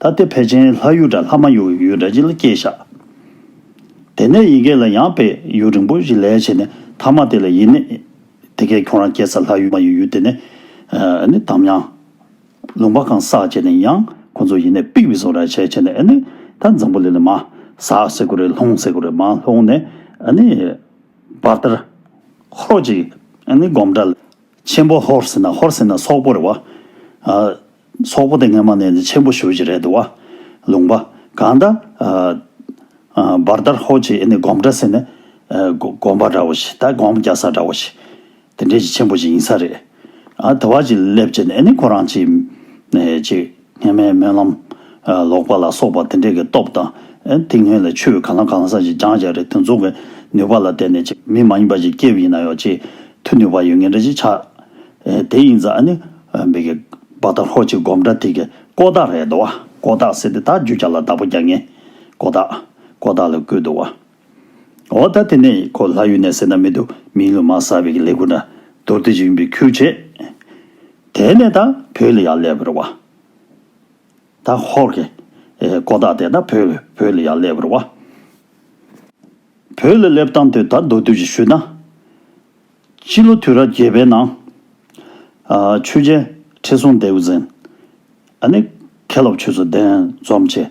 ད་སྟེ་བལ་ཆེན་ལྷ་གཡུ་སྒྲ་ལྷ་མ་ཡུ་ཡུལ་སྒྲ་འཇིལ་སྐྱེས་ཞག། དེ་ནས་ཡི་གེ་ལ་ཡང་བལ་ཡུལ་རིང་པོ་བཞི་ལས་བྱས་ནས་ཐ་མ་དེ་ལ་ཡེ་ནས་དེ་ཀའི་ཁྱུང་རང་སྐྱེས་ས་ལྷ་གཡུ་མ་ཡུ་ཡུལ་དེ་ནས་ནི་དམ་ཡང། ལུང་པ་གང་ཟག་བྱས་ནས་ཡང་ཁོ་ཚོ་ཡེ་ནས་པིག་བི་སོ་ར་བྱས་བྱས་ནས་ནི་ད་འཛམ་བུ་ལི་ལི་མ། ཟག་སེ་གུ་རེ་ལྷུང་སེ་གུ་རེ་མ་ལྷུང་ནས་ནི། བར་དར། ཧོར་གཅིག་ནི་སྒོམ་གྲ། ཆེན་པོ་ཧོར་སེ་ན་ཧོར་སེ་ན་སོག་པོ་རེད་བ། སོག་པོ་དེ་སྔ་མ་ནས་ནི་ཆེན་པོ་ཞུ་བྱེད་རེད་འདུག་བ། ལུང་པ། གང་ལྟར། བར་དར་ཧོར་གྱི་ཨེ་ནི་སྒོམ་གྲྭ་ཟེར་ནས། སྒོམ་པ་འདྲ་བོ་ཞིག་ད་སྒོམ་རྒྱག་ས་འདྲ་བོ་ཞིག། དེ་འདྲའི་ཆེན་པོ་ཞིག་ཡིན་ས་རེད། དེ་བ་ཅིག་སླེབས་བྱས་ནས་ཨེ་ནི་ཁོ་རང་ཅིག། སྔ་མའི་སྨོན་ལམ། ལོག་པ་ལ་སོགས་པ་དེ་འདྲས་ཀྱི་སྟོབས་དང། ཏིང་ངེ་ལ་ཆོས་གང་ལ་གང་ཟག་ཅིག་སྦྱང་བྱ་རེ་ཏུ་འཛུགས་པའི་ནུས་པ་ལ་བརྟེན་ནས་ཅིག་མི་མ་ཡིན་པ་ཅིག་སྐྱེ་བ་ཡིན་ན་ཡོད་ཅིག་ཐུ་ནུས་པ་ཡོད་ངེས་འདྲ་ཅིག་ཆགས། དེ་ཡིན་ཙང་ནི། མི་གི། བ་དང་ཧོ་ཅིག་སྒོམ་འདྲ་ཐིག་གི་ཀོ་དག་རེད་དོ། ཀོ་དག་སེ་དེ་དག་རྒྱུ་བྱ་ལ་བདག་པོ་རྒྱག་ངེས། ཀོ་དག། ཀོ་དག་ལ་བསྐུལ་དུ་བ། འོ་ད་དེ་ནས་ཁོ་ལྷ་ཡུལ་ནས་སེར་སྣ་མི་འདུག་མིའི་ལུས་མ་ཟ་བའི་གི་ལེ་ཁུ་ན་རྡོར་བསྡུས་ཀྱི་ཡུམ་པའི་ཁུར་བྱས། དེ་ནས་ད་བོད་ལ་ཡར་སླེབས་པར་བ། ད་ཧོར་གི་ཀོ་བདག་དེ་ད་བོད་བོད་ལ་ཡར་སླེབས་པར་བ། བོད་ལ་སླེབས་སྟངས་དུས་ད་མདོར་བསྡུས་ཀྱི་ཤུལ་ན། སྤྱི་ལོ་དུས་རབས་བརྒྱད་པའི་ནང། ཆོས་རྒྱལ་ཁྲི་སྲོང་ལྡེའུ་བཙན། ཨ་ནི་མཁས་སློབ་ཆོས་ཚུལ་ལྡན་འཛོམས་བཅས།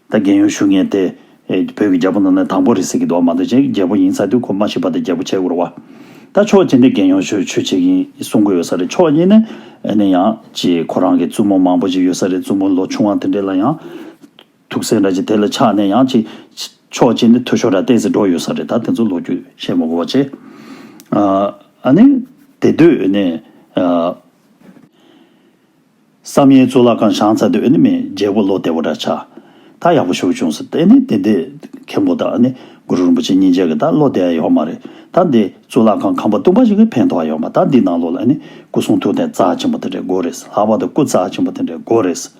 ད་རྒན་ཡོལ་ཞུ་ངེས་ཏེ། བོད་ཀྱི་རྒྱལ་པོ་ནང་ན་དང་པོ་རེད་ཟེར་གྱི་འདུག་བ་མ་འདོད་ཅན་གྱི་རྒྱལ་པོ་ཡིན་ས་དུས་ཁོ་མ་ཤི་བར་དུ་རྒྱལ་པོ་བྱས་དགོས་རུ་བ། ད་ཕྱོགས་གཅིག་ནས་རྒན་ཡོལ་ཞུ་ཆོས་བྱེད་ཀྱིན་གསུང་གི་ཡོད་ས་རེད་ཕྱོགས་གཉིས་ནས་ནས་ཡང་ཅི་ཁོ་རང་གི་བཙུན་མོ་མང་པོ་ཅིག་ཡོད་ས་རེད་བཙུན་མོ་ལོ་ཆུང་བ་དེ་འདྲས་ལ་ཡང་ཐུགས་སེམས་འདྲ་ཅིག་དེ་ལ་ཆགས་ནས་ཡང་ཅི། ཕྱོགས་གཅིག་ནས་འཐུས་ཤོར་ར་ཏས་འགྲོ་ཡོད་ས་རེད་ད་དེ་ཚོ་ལོ་རྒྱུས་བཤད་མ་གོ་བ་ཅི། ཨ་ནི། དེ་དུས་ནས། བསམ་ཡས་གཙུག་ལག་ཁང་བྱང་ཚ་དུ་ཨནི་མའི་རྒྱལ་པོ་བློ་བདེ་བོ་འདྲ་ཆགས། ད་ཡག་པོ་ཞུགས་བྱུང་ཟེར་ཏེ་ཨནི་དེ་འདི་མཁན་པོ་དང་ཨནི་གུ་རུ་རིན་པོ་ཆེ་གཉིས་མཇལ་གི་ད་བློ་བདེ་ཨ་ཡོད་མ་རེད་ད་འདི་གཙུག་ལག་ཁང་ཁང་པ་སྟུག་པ་ཞིག་གི་ཕན་ཐོག་ཨ་ཡོད་མ་ད་འདི་ནང་ལོགས་ལ་ཨནི་སྐུ་གསུང་ཐུགས་རྟེན་རྩ་ཆེན་པོ་དེ་འདྲའི་སྒོ་རེད་ལྷག་པར་དུ་སྐུ་རྩ་ཆེན་པོ་དེ་འདྲའི་སྒོ་རེད་ཟེར།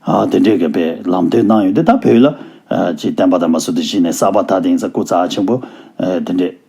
ཨ་དེ་འདྲའི་གི་པའི་ལམ་སྟོན་གནང་ཡོད་དེ་ད་བོད་ལ་ཅི་བསྟན་པ་དང་མ་སྲུ་དུ་གཞི་ནས་གསར་པ་ད་དེང་སང་སྐུ་རྩ་ཆེན་པོ་དེ་འདྲའི།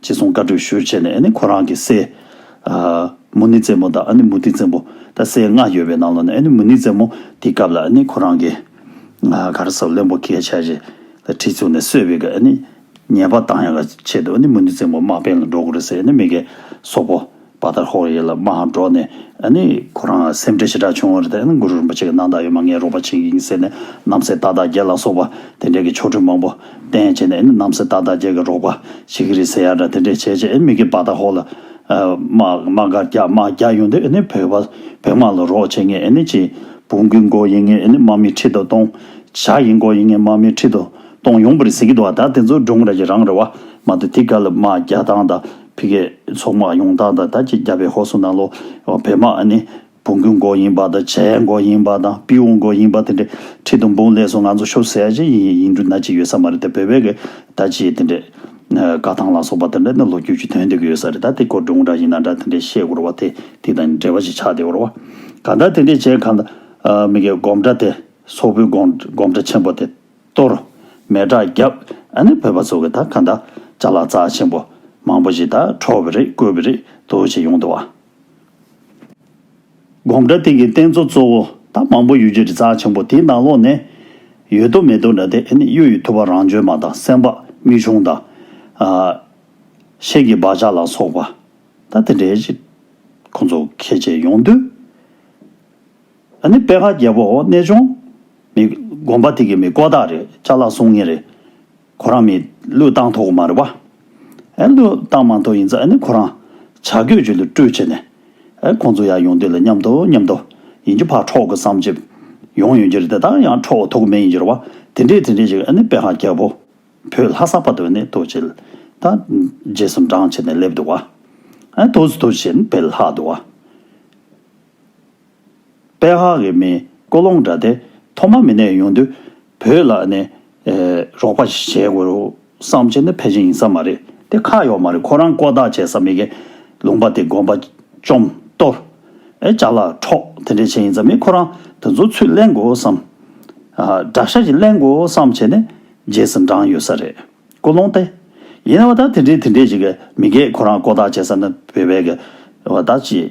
ཅེས་གསུངས་བཀའ་གྲོས་ཞུས་བྱས་ནས་ཁོ་རང་གི་སྲས། མུ་ནི་བཙན་མོ་དང་མུ་ཏིག་བཙན་པོ། ད་སྲས་ལྔ་ཡོད་པའི་ནང་ལ་ནས་མུ་ནི་བཙན་མོ་དེའི་སྐབས་ལ་ཁོ་རང་གི། ག་རེ་ཟ་བློན་པོ་སྐད་ཆ་རེ། དྲི་བཙུགས་ནས་གསོད་པའི་ཉེས་པ་དང་ཡང་ཆེད་དུ་མུ་ནི་བཙན་པོ་དམག་འཕེན་ལ་འགྲོ་དགོས་རེད་ཟེར་ནས་མི་གས་སོག་པོ། བ་ལྟར་ཧོ་ཡིད་ལ་མ་འགྲོ་ནས་ནི། ཁོ་རང་སེམས་ཁྲལ་ཞེ་དྲག་བྱུང་བར་དེ་ནི་གུ་རུ་རིན་པོ་ཆེ་གི་སྣང་བརྟགས་ཡོད་མ་ངའི་རོགས་པ་བྱེད་ཀྱིན་ཟེར་ནས་རྣམ་སྲས་རྟག་བདག་རྒྱལ་ལ་སོགས་པ་དེ་འདྲས་ཀྱི་ཆོ་འཕྲུལ་མང་པོ་བསྟན་བྱས་ནས་ནི་རྣམ་སྲས་རྟག་བདག་རྒྱལ་གྱི་རོགས་པ་བྱེད་ཀྱི་རེད་ཟེར་ཡ་འདྲ་དེ་འདྲས་བྱས་རྗེས་མི་དགེ་བ་ལྟར་ཧོ་ལ། དམག་དམག་འགའ་རྒྱ་དམག་རྒྱ་ཡོང་དུས་ནི་བོད་པ་བོད་དམག་ལ་རོགས་བྱེད་ངེས་ནི་ཅི། བོང་གུའི་མགོ་ཡིན་ངེས་ནི་དམག་མི་ཁྲི་དོ་སྟོང། བྱ་ཡི་མགོ་ཡིན་ངེས་དམག་མི་ཁྲི་དོ་སྟོང་ཡོང་པ་རེད་ཟེར་གྱི་འདུག་བ་ད་དེ་ཚོ་སྒྲུང་ར་གྱི་རང་རེད་བ་མ་འདུག་དེ་ག་ལ་དམག་རྒྱ་ཐང་དང་ཕི་སྐད་ཚོགས་དམག་ཡོངས་དག་དང་ད་ཅི་རྒྱ་བལ་ཧོ་སུ་ན་ལོ་བལ་དམག་ནི་བུང་གུ་མགོ་ཡིན་པ་དང་བྱའི་མགོ་ཡིན་པ་དང་པིའུ་མགོ་ཡིན་པ་དེ་འདྲའི་ཁྲི་དང་འབུམ་ལས་སོ་ང་ཚོ་ཤོ་སེར་ཅན་ཡིན་ཡིན་འདྲུ་ན་ཅི་ཡོད་ས་མ་རེད་དེ་བོད་བལ་གི་ད་ཅི་དེ་འདྲའི་བཀའ་ཐང་ལ་སོགས་པ་དེ་འདྲ་ནི་ལོ་རྒྱུས་ཀྱི་དོན་དེ་གི་ཡོད་ས་རེད་ད་དེ་སྐོར་འབྲུ་འདྲ་ཡིན་ན་འདྲ་དེ་འདྲའི་བཤད་དགོས་ར་བ་དེ་དེ་དང་འབྲེལ་བ་ཞིག་ཆགས་དེ་འོ་ར་བ་གང་དྲ་དེ་འདྲའི་བྱས་གང་ད་མི་གའི་སྒོམ་གྲ་དེ་སོག་པོའི་སྒོམ་གྲ་ཆེན་པོ་དེ། གཏོར། མེ་སྒྲ་བརྒྱབ། ཨ་ནི་བོད་པ་ཚོ་གི་ད་ག་འདྲ། བྱ་ལ་རྩ་ཆེན་པོ། མང་པོ་ཞིག་ད་ཁྲོ་བི་རི་བཀོད་བི་རི་འདུག་བྱེད་ཡོང་འདུག་བ། སྒོམ་གྲྭ་སྟེང་གི་རྟེན་གཙོ་གཙོ་བོ་ད་མང་པོ་ཡོད་རྒྱུ་རི་རྩ་ཆེན་པོ་དེའི་ནང་ལོག་ནས། ཡོད་དོ་མེད་དོ་འདྲ་དེ་ཨ་ནི་གཡུ་ཡི་ཐུབ་པ་རང་བྱོན་མ་དང་སེམས་དཔའ་སྨིག་ཆུང་དང། གཤེན་གྱི་སྦ་ལྕག་ལ་སོགས་པ། ད་དེ་འདྲའི་ཁོང་ཚོ་ཁས་བྱེད་ཡོང་དུས། ཨ་ནི་དཔལ་ཁ་རྒྱལ་པོ་འོ་གནས་ཆུང། མི་སྒོམ་པ་དེ་གི་མི་ཀོ་དག་རེད་ལྕགས་ལ་སོང་ངེ་རེད། ཁོ་རང་མི་ལུས་བཏང་ཐོག་མ་རེད་བ། ཨ་ལུས་བཏང་མ་ཐོག་ཡིན་ཚ་ཨ་ནི་ཁོ་རང་བྱ་རྒོད་ཆུ་ལུས་སྤྲུལ་བྱས་ནས། ཨ་ཁོང་ཚོ་ཡར་ཡོང་དུས་ལ་མཉམ་དུ་མཉམ་དུ་ཡིན་གྱི་ཕར་འཕྲོག་གི་བསམ་བྱེད་ཡོང་ཡོང་གྱི་རེད་དེ་དག་ཡང་འཕྲོག་ཐུག་མེད་ཡིན་གྱི་རེད་བ་དེ་འདྲས་དེ་འདྲས་ཞིག་ཨ་ནི་དཔལ་ཁ་རྒྱལ་པོ་བོས་ལྷ་ས་བར་དུ་ཨ་ནི་ཐུག་བྱས་ད་རྗེས་སུ་འབྲང་བྱས་ནས་སླེབས་འདུག་བ། ཨ་ཐུགས་སུ་ཐུགས་བྱས་ནས་བེད་ལྷག་འདུག་བ། པའི་ཧ་གི་མིན་ཀོ་ལོང་འདྲ་སྟེ་ཐོག་མ་མི་ནས་ཡོང་དུས་བོད་ལ་ནི་རོགས་པ་བྱས་དགོས་བསམ་བྱས་ནི་ཕལ་ཆེར་ཡིན་ས་མ་རེད་དེ་ཁ་ཡོག་མ་རེད་ཁོ་རང་ཀོ་བརྡ་བྱས་ས་མི་གེ་ལུང་པ་དེ་དགོན་པ་བཅོམ་གཏོར་ལྕགས་ལ་འཕྲོག་དེ་འདྲས་བྱས་ཡིན་ས་མི་ཁོ་རང་དེ་ཚོ་ཚུར་གླེང་དགོས་བསམ་དགྲ་ཤ་ཅིག་གླེང་དགོས་བསམ་བྱས་ནི་རྗེས་སུ་འབྲང་ཡོད་ས་རེད་ཀོ་ལོང་སྟེ། ཡིན་ན་བ་ད་དེ་འདྲས་དེ་འདྲས་བྱས་གི་མི་གེ་ཁོ་རང་ཀོ་བརྡ་བྱས་ས་ནི་བོད་པའི་གི་བ་ད་ཅི།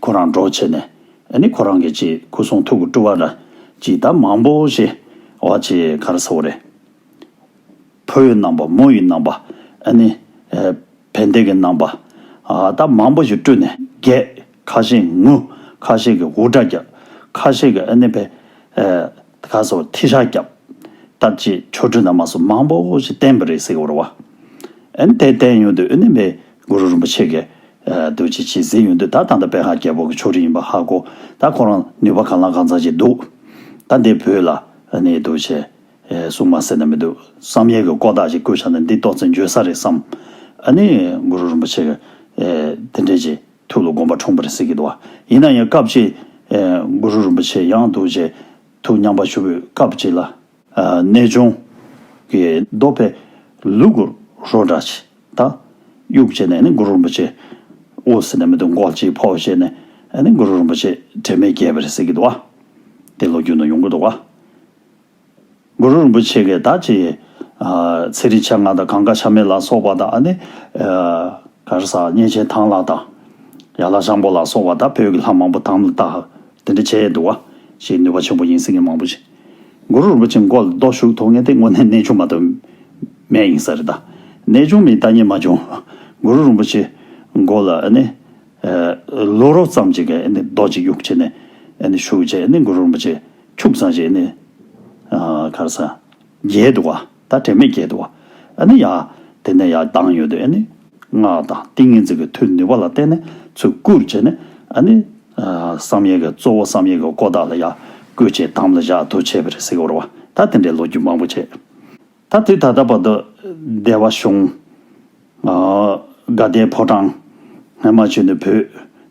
ཁོ་རང་གྲོགས་བྱས་ནས་ནི་ཁོ་རང་གི་ཅེས་སྐུ་གསུང་ཐུགས་ཀྱི་སྤྲུལ་བ་ལ་ཅི་ད་མང་པོ་ཞེས་བ་ཅི་གར་ཟ་བོ་རེད། ཕོ་ཡི་རྣམ་པ་མོ་ཡི་རྣམ་པ་ནི་བན་དེ་གི་རྣམ་པ་ད་མང་པོ་ཞིག་སྤྲུལ་ནས་རྒྱས་ཁ་ཤས་ངུ་ཁ་ཤས་ཀྱི་འུར་སྒྲ་རྒྱག་ཁ་ཤས་ཀྱི་ནི་བལ་ག་ཟ་བོ་ཐི་ཤ་རྒྱབ་ད་ཅེས་ཆོ་འཕྲུལ་རྣམ་མ་སོགས་མང་པོ་ཞིག་བསྟན་པ་རེད་ཟེར་བར་བ། དེ་བསྟན་ཡོང་དུས་ནི་བའི་གུ་རུ་རིན་པོ་ཆེ་གི་རྡོ་རྗེ་འཆི་སའི་ཡུལ་འདི་ད་ཐང་ད་པེ་ཧ་རྒྱལ་པོ་གི་ཕྱོགས་རིས་ཡིན་པ་ཧ་གོ། ད་ཁོ་རང་ནུས་པ་གང་ལ་གང་ཚང་ཅིག་འདུག། ད་འདི་བོད་ལ་ནི་རྡོ་རྗེ། སྲུང་མ་ཟེར་ན་མི་འདུག་བསམ་ཡས་ཀྱི་སྐོར་དག་ཅིག་བཀོད་བྱ་ནི་འདི་གཏོགས་ཚིག་འགྱོད་ས་རེད་བསམ། ནི་གུ་རུ་རིན་པོ་ཆེ། དེ་འདྲས་ཀྱི་ཐུགས་ལ་དགོངས་པ་འཁྲུངས་པར་གཟིགས་ཀྱི་འདུག་ཡིན་ན་ཡང་སྐབས་ཅིག། གུ་རུ་རིན་པོ་ཆེ་ཡང་རྡོ་རྗེ། ཐུགས་མཉམ་པར་ཞུ་བའི་སྐབས་ཅིག་ལ། གནས་ཆུང། གི་རྡོ་པས་ལུག་གུ་རོ་འདྲ་བྱས་དང། དབྱུག་བྱས་ནས་ནི་གུ་རུ་རིན་པོ་ཆེ་དབུ་ཟེར་ནས་མི་འདུག་འགོག་ཅིག་ཕོ་བྱས་ནས་ནི་གུ་རུ་རིན་པོ་ཆེ་དྲི་མེད་རྒྱལ་བའི་སྲས་ཀྱི་འདུ་བ། དེ་ལོ་རྒྱུས་ན་ཡོང་གི་འདུག་ག། གུ་རུ་རིན་པོ་ཆེ་གི་ད་ཅི། ཚེ་རིང་ཆ་ལྔ་དང་གང་ག་ཆ་མེད་ལ་སོགས་པ་དང་ནི། གར་ས་གཉན་ཆེན་ཐང་ལག་དང། ཡར་ལ་ཤངས་པོ་ལ་སོགས་པ་དང་བོད་ཀྱི་ལྷ་མང་པོ་དང་ལ་དག་དེ་འདྲ་བྱས་འདུག་ག། ཞེས་ནུས་པ་ཆེན་པོ་ཡིན་སྲིད་ངས་མང་པོ་ཞིག། གུ་རུ་རིན་པོ་ཆེ་མགོ་ལ་རྡོ་ཞུགས་ཐོག་ངན་ཏེ་སྔོན་གནས་ཆུང་མ་གཏོལ། མས་ཡིན་ས་རེད་ད། གནས་ཆུང་མིན་ད་ཉན་མ་བྱུང། གུ་རུ་རིན་པོ་ཆེ་མགོ་ལ་ནི། ལུས་རོ་ཙམ་གཅིག་གི་ནི་རྡོ་གཅིག་གཡུག་བྱས་ནས་ཞུགས་རྗེས་ནི་གུ་རུ་རིན་པོ་ཆེ་ཁྱུག་ཚང་ཞིག་ནི། གར་ས། རྒྱལ་དུ་བ། ད་དྲན་མེད་སྐྱེས་འདུག་ཨ་ནི་ཡ། དེ་ནས་ཡར་ལྡང་ཡོད་དུས་ཨ་ནི། སྔགས་དང་ཏིང་ངེ་འཛིན་གྱི་མཐུ་ནུས་པ་ལ་བརྟེན་ནས་ཚུར་བསྐུར་བྱས་ནས་ཨ་ནི། བསམ་ཡས་ཀྱི་གཙོ་བོ་བསམ་ཡས་ཀྱི་སྐོར་དག་ལ་ཡར། བསྐུར་བྱས་དམ་ལ་བཞག་འདུག་བྱས་པས་རེ་སིག་འོར་བ། ད་དེ་འདྲའི་ལོ་རྒྱུས་མང་པོ་བྱས། ད་དུས་ད་ལྟ་བར་དུ། སྡེ་བ་གཞུང། དགའ་ལྡན་ཕོ་བྲང། ངྷི་མ་ཆོས་ནི་བུ།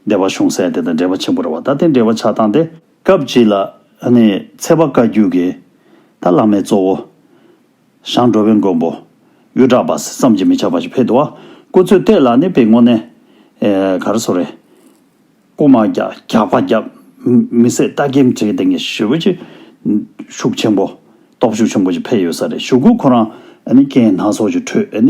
སྡེ་བ་གཞུང་སྲས་དེ་དང་འབྲེལ་བ་ཆེན་པོ་རེད་བ་ད་དེ་འབྲེལ་བ་ཆ་ཚང་སྟེ། སྐབས་གཅིག་ལ་ནི་ཚེ་དཔའ་བཀའ་བརྒྱུད་ཀྱི་ད་བླ་མའི་གཙོ་བོ། ཞང་འགྲོ་བའི་མགོན་པོ། གཡུ་བྲག་པ་སེ་བསམ་གྱིས་མི་ཁྱབ་པ་ཞིག་ཕེབས་འདུག་བ་སྐུ་ཚོད་ལྟས་ལ་ནི་པེ་ངོ་ནས། གར་སོ་རེ། སྐུ་མ་རྒྱག་རྒྱག་པ་རྒྱབ། མི་བསད་རྟ་སྐེམ་བྲེག་སྟེང་གི་ཞི་བ་ཅིག། ཤུགས་ཆེན་པོ། སྟོབས་ཤུགས་ཆེན་པོ་ཞིག་འཕེལ་ཡོད་ས་རེད་བཞུགས་སྐུ་ཁོ་རང། ཀན་ནག་སོགས་ཀྱི་ཁྲོད།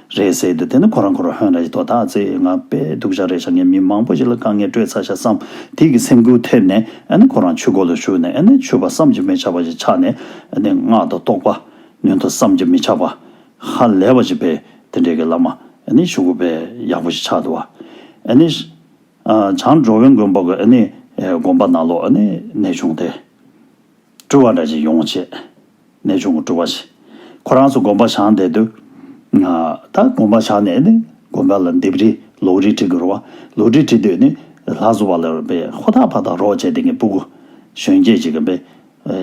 རེད་ཟེར་དུས་དེ་ནི་ཁོ་རང་ཁོ་རང་ཧོན་ར་ཡི་དོ་བདག་ཚེ་ང་པས་སྡུག་ཤག་རེད་ཤག་ངས་མི་མང་པོ་ཞིག་ལ་དཀའ་ངལ་སྤྲོད་ཚར་ཤག་བསམ་དེ་གི་སེམས་འགུལ་ཐེབས་ནས་ཨ་ནི་ཁོ་རང་ཆུ་འགོ་ལ་ཞུགས་ནས་ཨ་ནི་ཆུ་བ་བསམ་གྱི་མི་ཆགས་པ་ཞིག་ཆགས་ནས་ཨ་ནི་ངག་ཏུ་རྟོགས་པ་ཉོན་དུ་བསམ་གྱི་མི་ཆགས་པ་ཧ་ལས་པ་ཞིག་པས་དེ་འདྲའི་གི་བླ་མ་ཨ་ནི་ཆུ་འགོ་པས་ཡག་པོ་ཞིག་ཆགས་འདུག་བ་ཨ་ནི། བྱང་འགྲོ་བའི་མགོན་པོ་གི་ཨ་ནི་དགོངས་པ་ནང་ལོགས་ཨ་ནི་ནས་བྱུང་སྟེ། སྤྲུལ་བ་འདྲ་ཞིག་ཡོང་བ་བྱེད། ནས་བྱུང་བསྒྲུབ་པ་བྱེད། ཁོ་རང་ཚོ་དགོན་པར་བཞག་འདས་དུས། ད་དགོན་པར་བཞག་ནས་ནི་དགོན་པ་ལ་འདེབས་རིས་ལོགས་རིས་བྲི་དགོས་རུང་བ། ལོགས་རིས་བྲི་དུས་ནི་ལྷ་བཟོ་བ་ལ་རོལ་པའི་ཧོ་ཐག་ཕ་ཐག་རོགས་བྱས་ཏེ་ངའི་སྤུ་གུ། གཞོན་སྐྱེས་ཅིག་གམ་པའི།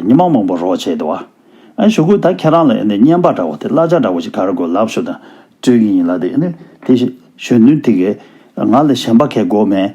ཉི་མ་མང་པོ་རོགས་བྱས་ཏེ་བ། ཞུ་གུ་ད་ཁྱེད་རང་ལ་སྙན་པ་འདྲ་བོ་དེ་གླ་ཆ་འདྲ་བོ་ཞིག་ག་རེ་དགོས་ལབ་ཞོ་ད་སྤྲོད་ཀྱི་ཡིན་ལ་དེ་ནི་དེ་བཞིན་གཞོན་ནུ་དེ་གས་ང་ལ་གཞན་པ་གས་དགོས་མེད།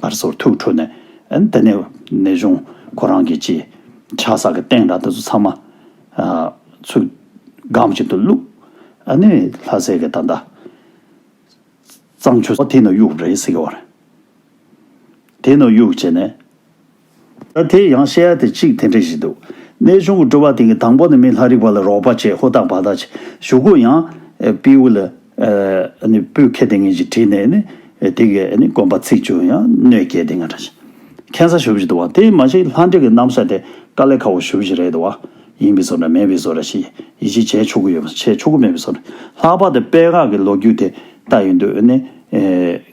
སྔར་སོར་ཐུག་འཕྲོ་ནས་འདི་ནས་ནས་བཟུང་ཁོ་རང་གི་ཅི། ཆགས་ས་གི་སྟེང་ར་འདི་ཚོ་ཚང་མ། ཚུར། སྒམ་གཅིག་ཏུ་བླུགས། ཨ་ནི་ལྷ་སྲས་ཀྱི་ད་ལྟ། གཙང་ཆུ། དེ་ནས་གཡུག་རེད་ཟེར་གྱི་བ་རེད། དེ་ནས་གཡུག་བྱས་ནས། ད་དེ་ཡང་བཤད་ཡ་དེ་ཅིག་དེ་འདྲ་ཞིག་འདུག་གནས་ཆུང་གི་སྤྲོ་བ་དེང་གི་དང་པོ་ནི་མི་ལྷ་རིག་པ་ལ་རོགས་པ་བྱེད་ཧུ་དག་བ་དག་བྱེད་ཞུ་གུ་ཡང། པིའུ་ལ། པུས་ཁེ་དེ་ངན་ཅིག་བྲིས་ནས་ནི། དེ་གི་དགོན་པ་ཚིག་བཅུ་ཡང་གནོད་སྐྱེལ་དེ་ང་འདྲ་བྱེད། མཁན་ས་ཞུ་བཞི་འདུག་བ་དེ་མ་ཞིག་ལྷ་འདྲེ་གི་རྣམ་ས་དེ་དཀའ་ལས་ཁ་བོ་ཞུ་བཞི་རེད་འདུག་བ། ཡིན་པའི་བཟོ་འདྲ་མེད་པའི་བཟོ་འདྲ་ཞིག་ཡིད་ཆེས་བྱས་ཆོག་གི་ཡོད་མ་བྱས་ཆོག་གི་མེད་པའི་བཟོ་འདྲ་ལྷག་པར་དུ་དཔལ་ངག་གི་ལོ་རྒྱུས་དེ་ལྟ་ཡིན་དུས་ནི།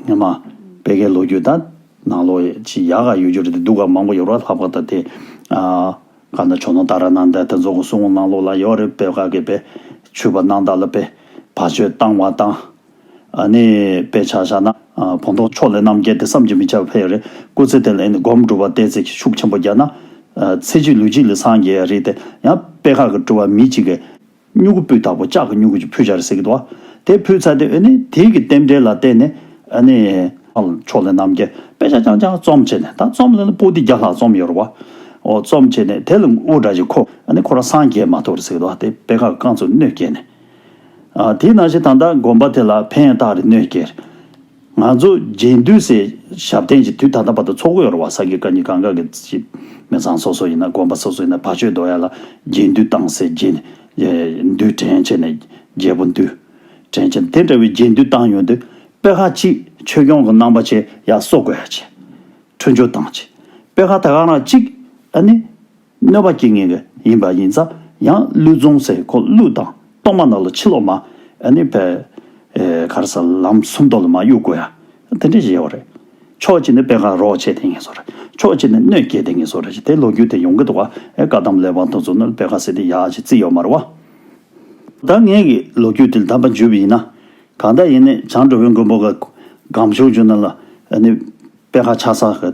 ངན་མ། དཔལ་ཁའི་ལོ་རྒྱུས་དང། ནང་ལོགས་ཀྱི་ཡག་ག་ཡོད་རྒྱུ་རེད་དེ་སྡུག་ག་མང་པོ་ཡོད་ར་ལྷག་པ་ད་དེ་ག་ནང་ཆོ་ནང་ད་ར་ནང་ད་དེ་ཚོ་གོ་སུ་ངོ་ནང་ལོགས་ལ་ཡོད་རེད་པེ་ག་གི་པེ་ཆུ་པ་ནང་ད་ལ་པེ་བ་ཆོས་བཏང་བ་དང་ཨ་ནི་པེ་ཆ་ཤ་ན་བོང་ཐོག་ཕྱོགས་ལས་རྣམ་རྒྱལ་དེ་བསམ་གྱི་མི་ཆ་བེ་རེད་སྐུ་ཚེ་དེ་ལ་ཨེ་ནི་སྒོམ་སྒྲུབ་བ་དེ་ཚེ་གི་ཤུགས་ཆེན་པོ་རྒྱག་ན་ཚེ་གཅིག་ལུས་གཅིག་ལ་སངས་རྒྱས་རེད་དེ་ཡང་པེ་ག་གི་སྤྲུལ་བ་མི་གཅིག་གི་སྨྱུ་གུ་སྤུས་དག་པོ་ལྕགས་ཀྱི་སྨྱུ་གུ་ཅིག་ཕུལ་བྱ་རེད་ཟེར་གྱི་འདུག་ཨ། དེ་ཕུལ་ཚར་ཏེ་ཨ་ནི་དེང་གི་རྟེན་འབྲེལ་ལ་བལྟས་ནས་ཨ་ནི། ཕྱོགས་ལས་རྣམ་རྒྱལ་དཔེ་ཆ་རྐྱང་རྐྱང་རྩོམ་བྱས་ནས་ད་རྩོམ་ལེན་ལ་པོ་ཏི་བརྒྱ་ལྷག་རྩོམ་ཡོད་རེད་བ། ཨོ་རྩོམ་བྱས་ནས་དེ་ལ་འུར་སྒྲ་ཅིག་ཁོ་ཨ་ནི་ཁོ་རང་སངས་རྒྱས་མ་ཐུག་རེད་ཟེར་གྱི་འདུག་ཨ་དེ་དཔེ་ཁ་རྐང་ཚུར་གནོད་སྐྱེལ་ནས། ཨ་དེས་ན་བཞིན་ད་ལྟ་དགོན་པ་དེ་ལ་ཕན་བཏགས་རེད་གནོད་སྐྱེལ་རེད། ང་ཚོ་རྒྱས་འདུས་སའི་ཞབས་བརྟན་གྱི་དུས་ད་ལྟ་བར་དུ་འཚོ་གོ་ཡོར་བ་ས་དགེ་བཀའ་རྙིང་གང་ག་གི་སྤྱི་མི་ཚང་སོ་སོ་ཡིན་ན་དགོན་པ་སོ་སོ་ཡིན་ན་ཕ་ཆོས་རྡོ་ཡ་ལ་རྒྱས་འདུས་བཏང་སའི་རྒྱས་འདུས་དྲན་བྱེད་ནས་རྒྱལ་པོ་འདུས་དྲན་བྱེད་དེ་འདྲ་བའི་རྒྱས་འདུས་བཏང་ཡོང་དུས་དཔེ་ཁག་གཅིག་ཆོས་སྐྱོང་གི་རྣམ་པ་ཆེ་ཡ་གསོ་དགོས་ཡ་ཆེ། འཕྲོད་འཇོག་བཏང་ཆེད་དཔེ་ཁག་ད་ག་རང་གཅིག་ཨ་ནི། གནོད་པ་སྐྱེ་ངེས་ཡིན་པ་ཡིན་ཙང་ཡང་གླུད་བཙོང་སའི་འཁོར་གླུད་དང་གཏོར་མ་རྣམས་ལ་ཕྱི་ལོགས་མ་ནི་བས་གར་ས་ལམ་གསུམ་མདོ་ལ་མ་གཡུག་དགོས་ཡ་དེ་འདྲས་ཞེས་བ་རེད། ཕྱོགས་གཅིག་ནས་དཔེ་ཁ་རོག་བྱས་དེ་ངེས་སོ་རེད་ཕྱོགས་གཅིག་ནས་གནོད་སྐྱེལ་དེ་ངེས་སོ་རེད་དེ་ལོ་རྒྱུས་དེ་ཡོང་གི་འདུག་བ་ཨེ་བཀའ་གདམས་ལས་བང་དུ་བཙུགས་ན་དཔེ་ཁ་ཟེར་དེ་ཡ་ཞེས་བརྩི་ཡོད་མ་རེད་བ། ད་ངེད་ཀྱི་ལོ་རྒྱུས་དེ་གདམས་པ་འཇུས་པ་ཡིན་ན་གང་ལྟར་ཡིན་ནས་བྱང་འགྲོ་བའི་མགོན་པོ་ག་གམ་ཆོས་འཇུ་ན་ལ་ནི་དཔེ་ཁ་ཆགས་ས་ག་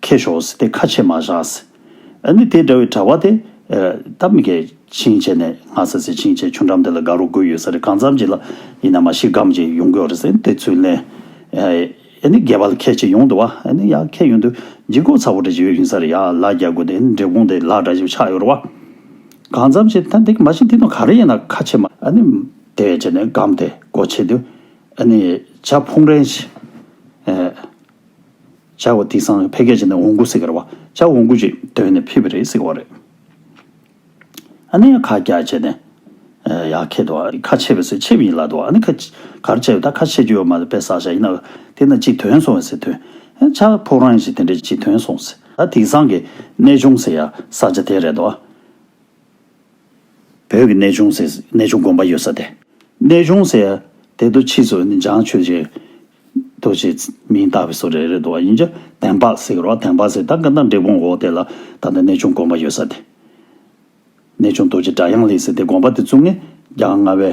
ཁེ་ཤོགས་དེ་ཁ་ཆེ་མ་བཞགས། ཨ་ནི་དེ་འདྲ་བའི་གྲྭ་བ་དེ། ད་མི་གས་ཆིངས་བྱས་ནས་ང་ཟེར་ཟེར་ཆིངས་བྱས་ཆུ་འགྲམ་དེ་ལ་དགའ་རོགས་དགོས་ཡོད་ས་རེད་གང་འཚམས་ཅིག་ལ་ཡིན་ན་མ་ཤི་སྒམ་ཅིག་ཡོང་དགོས་རེད་ཟེར་དེ་ཚུལ་ལན། ཨ་ནི་རྒས་པ་ལ་ཁས་ཆེ་ཡོང་འདུག་བ་ཨ་ནི་ཡ་ཁས་ཡོང་དུས་འཇིག་སྐོར་ཚ་བོ་འདྲ་ཅིག་ཡོད་ཡིན་ས་རེད་ཡ་ལ་རྒྱག་དགོས་དེ་ནི་འབྲས་སྤུངས་དེ་ལ་འདྲ་ཞིག་ཆགས་ཡོད་རེད་བ། གང་འཚམས་ཅིག་ད་འདི་གི་མ་ཤི་འདི་ནོར་ག་རེ་ཡིན་ན་ཁ་ཆེ་མ། ཨ་ནི། དེ་བྱས་ནས་སྒམ་དེ་སྒོ་ཕྱེ་དུས། ཨ་ནི། བྱ་ཕུང་རན་ཞིག། བྱ་བ་དེང་སང་ཕལ་སྐད་ཆ་ནི་འོང་གུ་ཟེར་གི་རེད་བ། བྱ་འོང་གུ་ཅིག་འདོན་ནས་ཕེབས་པ་རེད་ཟེར་གི་བ་རེད། ཨ་ནི་ཁ་རྒྱ་བྱས་ནས་ཡག་ཁད་དུ་བ། ཁ་ཆེ་བས་སེ་ཆེ་བས་ཡིན་ལགས་དུ་བ་ཨ་ནི་ཁ་གར་བྱས་བས་ད་ཁ་ཆེ་རྒྱུ་ཡོད་མ་རེད་པས་ཟག་བྱ་ཡིན་ན་དེ་ན་ཅིག་དོན་སོང་བས་སེ་དོན་བྱ་ཕོག་རང་ཡིན་ཞིག་དེ་འདྲས་ཅིག་དོན་སོང་ཟེར་ད་དེང་སང་གི་གནས་ཆུང་ཟེར་ཡ་ཟག་བྱ་དེ་རེད་དུ་བ། བོད་ཀྱི་གནས་ཆུང་ཟེར། གནས་ཆུང་དགོན་པ་ཡོད་ས་དེ། གནས་ཆུང་ཟེར། དེ་དུ་ཕྱིས་སུ་ནི་འཇང་ཆོས་རྗེ། དུ་ཞེས་མིང་བཏགས་པའི་སོགས་རེ་རེ་འདུག་བ་ཡིན། དན་འཕགས་ཟེར་རོ། དན་འཕགས་ཟེར། ད་ག་ནང་འབྲས་སྤུངས་འོག་དེ་ལ། ད་ནི་གནས་ཆུང་དགོན་པ་ཡོད་ས་དེ། གནས་ཆུང་རྡོ་རྗེ་སྒྲ་དབྱངས་ལེགས་ཟེར་དེ་དགོན་པ་དེ་བཙུགས་ནས། རྒྱ་རྔ་བའི།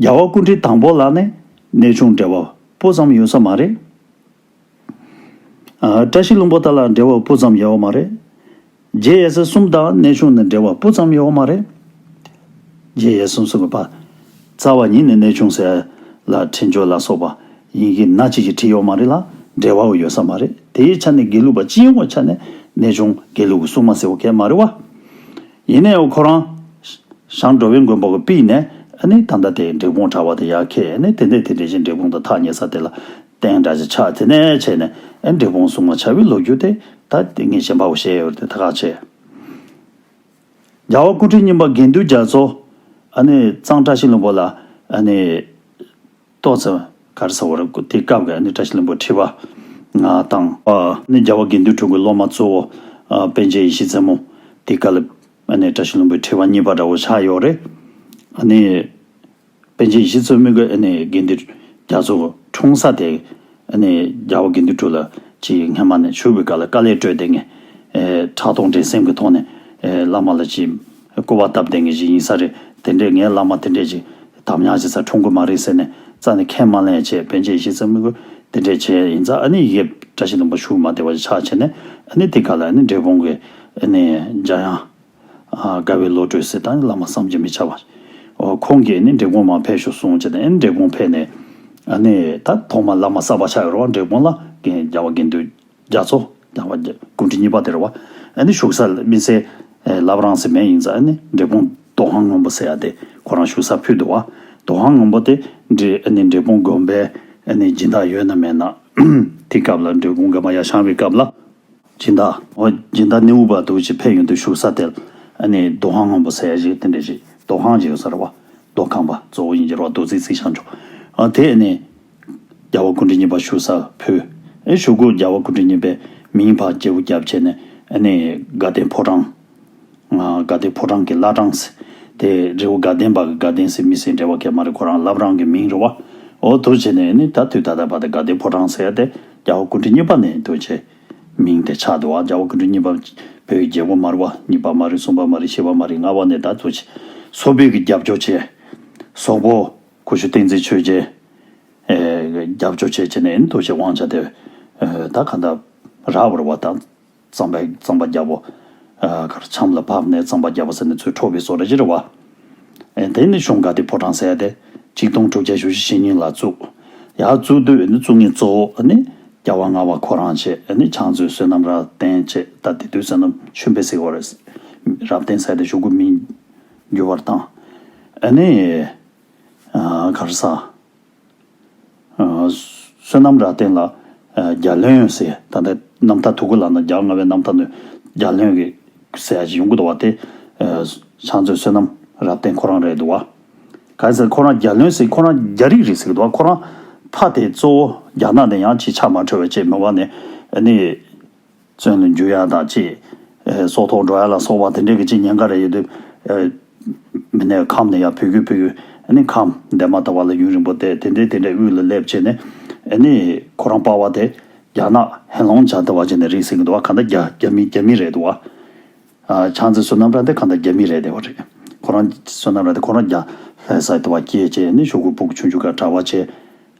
རྒྱལ་བ་ཀུན་དྲིན་དང་པོ་ལ་ནི་གནས་ཆུང་འབྲེལ་བ་སྤུ་ཙམ་ཡོད་ས་མ་རེད། བཀྲ་ཤིས་ལུང་པོ་ལྟར་ལ་འབྲེལ་བ་སྤུ་ཙམ་ཡོད་མ་རེད། རྗེ་ཡེ་སེ་གསུམ་དང་གནས་ཆུང་ནི་འབྲེལ་བ་སྤུ་ཙམ་ཡོད་མ་རེད། རྗེ་ཡེ་སེ་གསུམ་གྱི་བར་རྩ་བ་ཉིད་ནི་གནས་ཆུང་ཟེར་ལ་འཕྲིན་བཅོལ་ལ་སོགས་པ་ཡིན་གྱི་ན་གཅིག་གི་བྲིས་ཡོད་མ་རེད་ལ་འབྲེལ་བ་བོ་ཡོད་ས་མ་རེད་དེའི་ཆ་ནས་དགེ་ལུགས་པ་སྤྱི་ཡོངས་ཀྱི་ཆ་ནས་གནས་ཆུང་དགེ་ལུགས་ཀྱི་སྲུང་མ་ཟེར་བ་གལ་མ་རེད་བ། ཡིན་ནའི་ཁོ་རང། ཞང་འགྲོ་བའི་མགོན་པོ་གི་པིས་ནས། ཨ་ནི་ད་ལྟ་དེ་འབྲས་སྤུངས་གྲྭ་བ་དེ་ཡར་ཁས་ཨ་ནི་དེ་འདས་དེ་འདྲས་ཤིག་འབྲས་སྤུངས་དང་ཐག་ཉེ་ས་དེ་ལ། བསྟན་དགྲ་ཞིག་ཆགས་དེ་ནས་བྱས་ནས། ཨ་འབྲས་སྤུངས་སྲུང་མ་བྱ་བའི་ལོ་རྒྱུས་དེ། ད་དེ་ངས་བཤད་འཕར་བོ་བཤད་འོས་ཏེ་ད་ཁག་བྱས། རྒྱལ་བ་སྐུ་ཕྲེང་རྙིང་པ་དགེ་འདུན་རྒྱ་མཚོ། ཨ་ནི་གཙང་བཀྲ་ཤིས་ལུང་པ་ལ། ཨ་ནི། ཏོག་ཙེ། གར་ས་བར་དེ་སྐབས་ཀྱི་ཨ་ནུ་བཀྲ་ཤིས་ལྷུན་པོ་ཁྲི་བ། དང། ནི་རྒྱལ་བ་དགེ་འདུན་དྲུག་གི་སློབ་མ་གཙོ་བོ། པན་ཆེན་ཡེ་ཤེས་རྩེ་མོ། དེ་ཀ་ལི། ཨ་ནི་བཀྲ་ཤིས་ལྷུན་པོའི་ཁྲི་བ་གཉིས་པ་འདྲ་བོ་ཆགས་ཡོད་རེད། ཨ་ནི། པན་ཆེན་ཡེ་ཤེས་རྩེ་མོ་གི་ཨ་ནི་དགེ་འདུན་རྒྱ་མཚོ་འཁྲུངས་ས་དེ། ཨ་ནི་རྒྱལ་བ་དགེ་འདུན་དྲུག་ལ་ཅིག་སྔ་མ་ནས་བཞུགས་པའི་སྐབས་ལ་དཀའ་ལས་སྤྲོད་དེ་ངས། ཕྲག་དོག་འགྲན་སེམས་ཀྱི་ཐོག་ནས། བླ་མ་ལ་ཅིག། བསྐོར་བ་སྟབས་བདེ་ངེས་ཅིག་ཡིན་ས་རེད། དེ་འདྲས་ངའི་བླ་མ་དེ་འདྲས་ཅིག་དམ་ཉམས་བྱེད་ས་འཁྲུངས་དགོས་མ་རེད་ཟེར་ནས་རྩ་ནས་ཁས་མ་ལེན་ཡ་བྱས་བན་ཆད་གཞི་རྩའི་དམིགས་བསྐོས་དེ་འདྲས་བྱས་ཡིན་ཙང་ཨ་ནི་ཡིད་བཀྲ་ཤིས་ལུང་པ་ཞུགས་མ་བདེ་བ་ཞིག་ཆགས་བྱས་ནས་ཨ་ནི་དེ་ག་ལ་ཨ་ནི་འབྲས་སྤུངས་ཀྱི་ཨ་ནི་འཇའ་དབྱངས་དགའ་བའི་བློ་གྲོས་སེ་ཏང་གི་བླ་མ་བསམ་གྱིས་མི་ཁྱབ་པ་འོ་ཁོང་གིས་ཨ་ནི་འབྲས་སྤུངས་མ་ཕེབས་ཤོག་གསུངས་བྱས་ནས་ཨ་ནི་འབྲས་སྤུངས་ཕེབས་ནས་ཨ་ནི་ད་ཐོག་མ་བླ་མ་གསར་པ་ཆགས་ཡོང་རོགས་འབྲས་སྤུངས་ལ་འགན་རྒྱག་པ་འགན་འདུས། རྒྱ་མཚོ། ཀྱང་བ། ཀུན་གྲི་གཉིས་པ་དེར་བ། ཨ་ནི་བཞུགས་ས་སྨིན་སའི། ལབ་རང་སེ་མེ་ཡིན་ཙང་ཨ་ནི་འབྲས་སྤུངས་རྡོ་ཧང་སྔོན་པོ་ཟེར་ཡ་དེ་ཁོ་རང་བཞུགས་ས་ཕུད་དུ་བ། རྡོ་ཧང་སྔོན་པོ་དེ་འདྲི་ཨ་ནི་འབྲས་སྤུངས་དགོན་པའི་ཨ་ནི་སྦྱིན་བདག་ཡོད་ན་མེད་ན། དེ་སྐབས་ལ་འབྲས་སྤུངས་དགོན་པ་ཡ་བཤང་བའི་སྐབས་ལ། སྦྱིན་བདག། བ། སྦྱིན་བདག་ནི་འུ་བ་དུ་ཅི་ཕེ་ཡོན་དུ་བཞུགས་ས་དེར་ཨ་ནི་རྡོ་ཧང་སྔོན་པོ་ཟེར་ཡ་ཞིག་དེ་འདྲི་ཞིག་རྡོ་ཧང་ཅིག་ཡོད་ས་རེད་བ། རྡོ་ཁང་བ་གཙོ་བོ་ཡིན་གྱི་རོ་རྡོ་རྩིག་རྩིག་བྱང་ཆུ། ཨ་དེ་ཨ་ནི། བརྒྱ་བ་དགུ་འབྲི་གཉིས་པ་བཞུགས་སར་ཕུལ། བཞུགས་སྒོ་བརྒྱ་བ་དགུ་འབྲི་གཉིས་པའི་མིང་འཕགས་རྒྱལ་བུ་རྒྱ་བྱས་ནས་ནི་དགའ་ལྡན་ཕོ་བྲང། དགའ་ལྡན་ཕོ་བྲང་གི་བླ་བྲང། དེ་རི་བོ་དགའ་ལྡན་པ་དགའ་ལྡན་སྲས་མི་སྲས་འབྲེལ་བ་ཀྱེ་མ་རི་ཁོ་རང་བླ་བྲང་གི་མིང་རི་བ་འོ་དུ་བྱས་ནས་ནི་ད་དུས་ད་ལྟ་བར་དུ་དགའ་ལྡན་ཕོ་བྲང་ཟེར་ཏེ་བརྒྱ་བ་དགུ་འབྲི་གཉིས་པ་ནས་འདུ་བྱས། མིང་དེ་ཆགས་འདུག་བརྒྱ་བ་དགུ་འབྲི་གཉིས་པ་བོད་ཀྱི་རྒྱལ་པོ་མ་རི་བ་གཉིས་པ་མ་རི་གསུམ་པ་མ་རི་བཞི་བ་མ་རི་ལྔ་བ་ནས་ད་དུ་བྱས། སོག་བོད་ཀྱི་རྒྱབ་སྐྱོར་བྱས། སོག་པོ། གོ་ཞུ་བསྟན་འཛིན་ཆོས་རྒྱལ། རྒྱབ་སྐྱོར་བྱེད་ཀྱི་ནི་འདུག་ཅེས་དབང་ཆ་དེ་ད་ག་འདྲ། ར་བར་བ་དང། རྩམ་པའི་རྩམ་པ་བརྒྱ་པོ། གར་འཆམ་ལ་བབས་ནས་རྩམ་པ་བརྒྱ་པོ་ཟེར་ནས་ཚུར་འཕྲོ་བའི་སོ་ར་གཞི་ར་བ། དེ་ནི་གཞུང་འགའ་དེ་ཕོ་བྲང་གསལ་ཏེ། གཅིག་སྟོང་དྲུག་བརྒྱ་ཞུ་བཞི་ཞེ་གཉིས་ལ་བཙུགས། ཡང་བཙུགས་དུས་ནི་བཙུགས་ངེས་གཙོ་བོ་ནི། རྒྱ་བ་རྔ་བ་ཁོ་རང་བཅས་ནི་བྱང་བཙུན་བསོད་ནམས་རབ་བརྟན་བཅས་ད་དེ་དུས་བསོད་ནམས་ཆོས་འཕེལ་སྲིད་བར་རབ་བརྟན་གསལ་ཏེ་ཞུ་དགོས་མིན། འགྱུར་བར་བཏང། ཨ་ནེ། གར་ས། བསོད་ནམས་རྭ་སྟེང་ལ། རྒྱ་ལྷོད་ཡོན་ཟེར་ད་ལྟའི་རྣམ་ཐར་དུ་གུ་ལ་ན་རྒྱ་ལྔ་བའི་རྣམ་ཐར་ནུས་རྒྱ་ལྷོད་ཀྱི་ཟེར་ཡག་ཅིག་ཡོང་གི་འདུག་བ་དེ། ཕྱག་མཛོད་བསོད་ནམས་རྭ་སྟེང་ཁོ་རང་རེད་འདུག་བ། གལ་སྲིད་ཁོ་རང་རྒྱ་ལྷོད་ཟེར་ཁོ་རང་རྒྱ་རིགས་རེད་ཟེར་གི་འདུག་བ་ཁོ་རང་ཕ་དེ་གཙོ་བོ་རྒྱ་ནག་ནས་ཡང་ཅིག་ཆགས་མ་འཕྲོས་བས་ཅེས་མི་བ་ནས་ཨ་ནེ། བཙོན་ལ་འཇུ་ཡ་དང་བཅས། སྲོག་ཐོག་འགྲོ་ཡ་ལ་སོགས་པ་དེ་འདྲའི་གི་ཅི་ཉེན་ཁ་རེ་ཡོད་དུས། མི་སྣའི་ཁམས་ནི་ཡང་བུ་གུ་བུ་གུའི་ཁམས་འདས་མ་ད་བར་ལ་ཡུན་རིང་པོ་བསྡད་དེ་འདྲའི་དེ་འདྲའི་དབུས་ལ་སླེབས་བྱས་ནས། ནི་ཁོ་རང་པ་བ་དེ་རྒྱ་ནག་ཧེ་ལོང་བྱ་དེ་བ་བྱས་ནས་རིག་སེང་གི་དུ་བ་ག་འདའ་རྒྱ་རྒྱ་མི་རྒྱ་མི་རེད་དུ་བ། ཆང་ཚེ་བསོད་ནམས་ར་དེ་ག་འདའ་རྒྱ་མི་རེད་དེ་བ་རེད། ཁོ་རང་བསོད་ནམས་ར་དེ་ཁོ་རང་རྒྱ་ལྷས་སའི་དུ་བ་སྐྱེས་བྱས་ནི་ཤོག་གུ་སྤུག་ཆུང་ཆུང་ག་གྲ་བ་བྱས།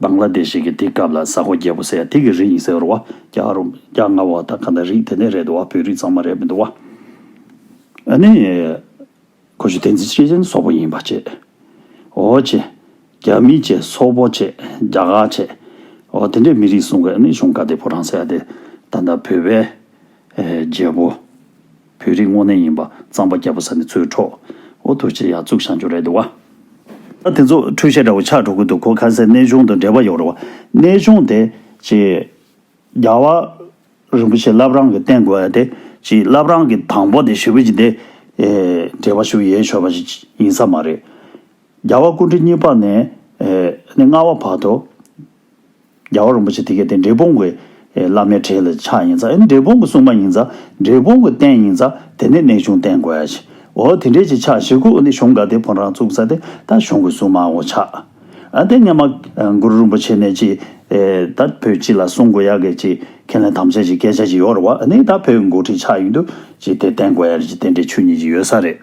བང་ལ་འདི་ཞིག་གི་དེ་སྐབས་ལ་ཟ་ཧོ་རྒྱལ་པོ་ཟེར་ཡ་དེ་གི་རིགས་ཡིན་ཟེར་བ་རྒྱ་ཨ་རོམ་རྒྱ་རྔ་བ་དང་ག་འདྲ་རིགས་དེ་ནས་རེད་འདུག་བ་བོད་རིགས་ཙང་མ་རེད་མི་འདུག་བ། ཨ་ནི། ཁོ་ཆུ་བསྟན་འཛིན་ཆེ་ཆེན་སོག་པོ་ཡིན་པ་བྱས། ཨོ་བྱས། རྒྱ་མི་བྱས་སོག་པོ་བྱས་རྒྱ་གར་བྱས། ཨོ་དེ་འདྲའི་མི་རིགས་གསུང་གི་ཨ་ནི་གཞུང་ག་དེ་བོ་རང་ཟེར་ཡ་དེ་ད་ད་བོད་པའི་རྒྱལ་པོ། བོད་རིགས་དངོས་གནས་ཡིན་པ་གཙང་པ་རྒྱ་བོད་ས་ནས་ཚུར་འཕྲོག་འོ་ཐུགས་རྗེ་ཡག་བཙུགས་ཤང་ཆུ་རེད་འདུག་བ། ད་དེ་ཚོ་འཁྲུལ་བཤད་འདྲ་བོ་ཆགས་འགྲོ་གི་འདུག་གོ་ཁ་གསལ་གནས་ཆུང་དང་འབྲེལ་བ་ཡོད་རེད་བ། གནས་ཆུང་དེ་གཅིག། རྒྱ་བ། རིན་པོ་ཆེ་བླ་བྲང་གི་རྟེན་དགོན་དེ་གཅིག་བླ་བྲང་གི་དང་པོ་དེ་ཞི་བོད་ཀྱི་དེ། འབྲེལ་བ་ཞུ་ཡས་ཆོད་པ་ཞིག་ཡིན་ས་མ་རེད། རྒྱ་བ་སྐུ་འཕྲེང་གཉིས་པ་ནས། ནས་ལྔ་བ་བར་དུ། རྒྱལ་བ་རིན་པོ་ཆེ་དེ་སྐད་དེ་འབྲས་སྤུངས་ཀྱི་བླ་མའི་གྲས་ལ་ཆགས་ཡིན་ཙང་འབྲས་སྤུངས་ཀྱི་སྲུང་མ་ཡིན་ཙང་འབྲས་སྤུངས་ཀྱི་རྟེན་ཡིན་ཙང་དེ་ནི་གནས་ཆུང་རྟེན་དགོས་ཡ། འོ་དེ་འདྲས་ཀྱི་ཕྱག་བཞེས་ཁུག་ནི་གཞུང་འགའ་དེ་བོན་རང་བཙུགས་ས་དེ་ད་གཞུང་གི་སྲུང་མའོ་ཆགས། ཨ་དེ་སྙེ་མ་གུ་རུ་རིན་པོ་ཆེ་ནས་ཅི་ད་བོད་སྤྱི་ལ་སྲུང་དགོས་ཡ་གི་ཅི་ཁས་ལེན་དམ་བཅའ་ཅི་སྐད་ཆ་ཅི་ཡོད་ར་བ་ནི་ད་བོད་མགོ་ཁྲིད་ཆགས་ཡིན་དུས་ཅི་དེ་རྟེན་དགོས་ཡ་རེད་ཅི་དེ་འདྲས་ཆོས་ཉིད་ཅི་ཡོད་ས་རེད།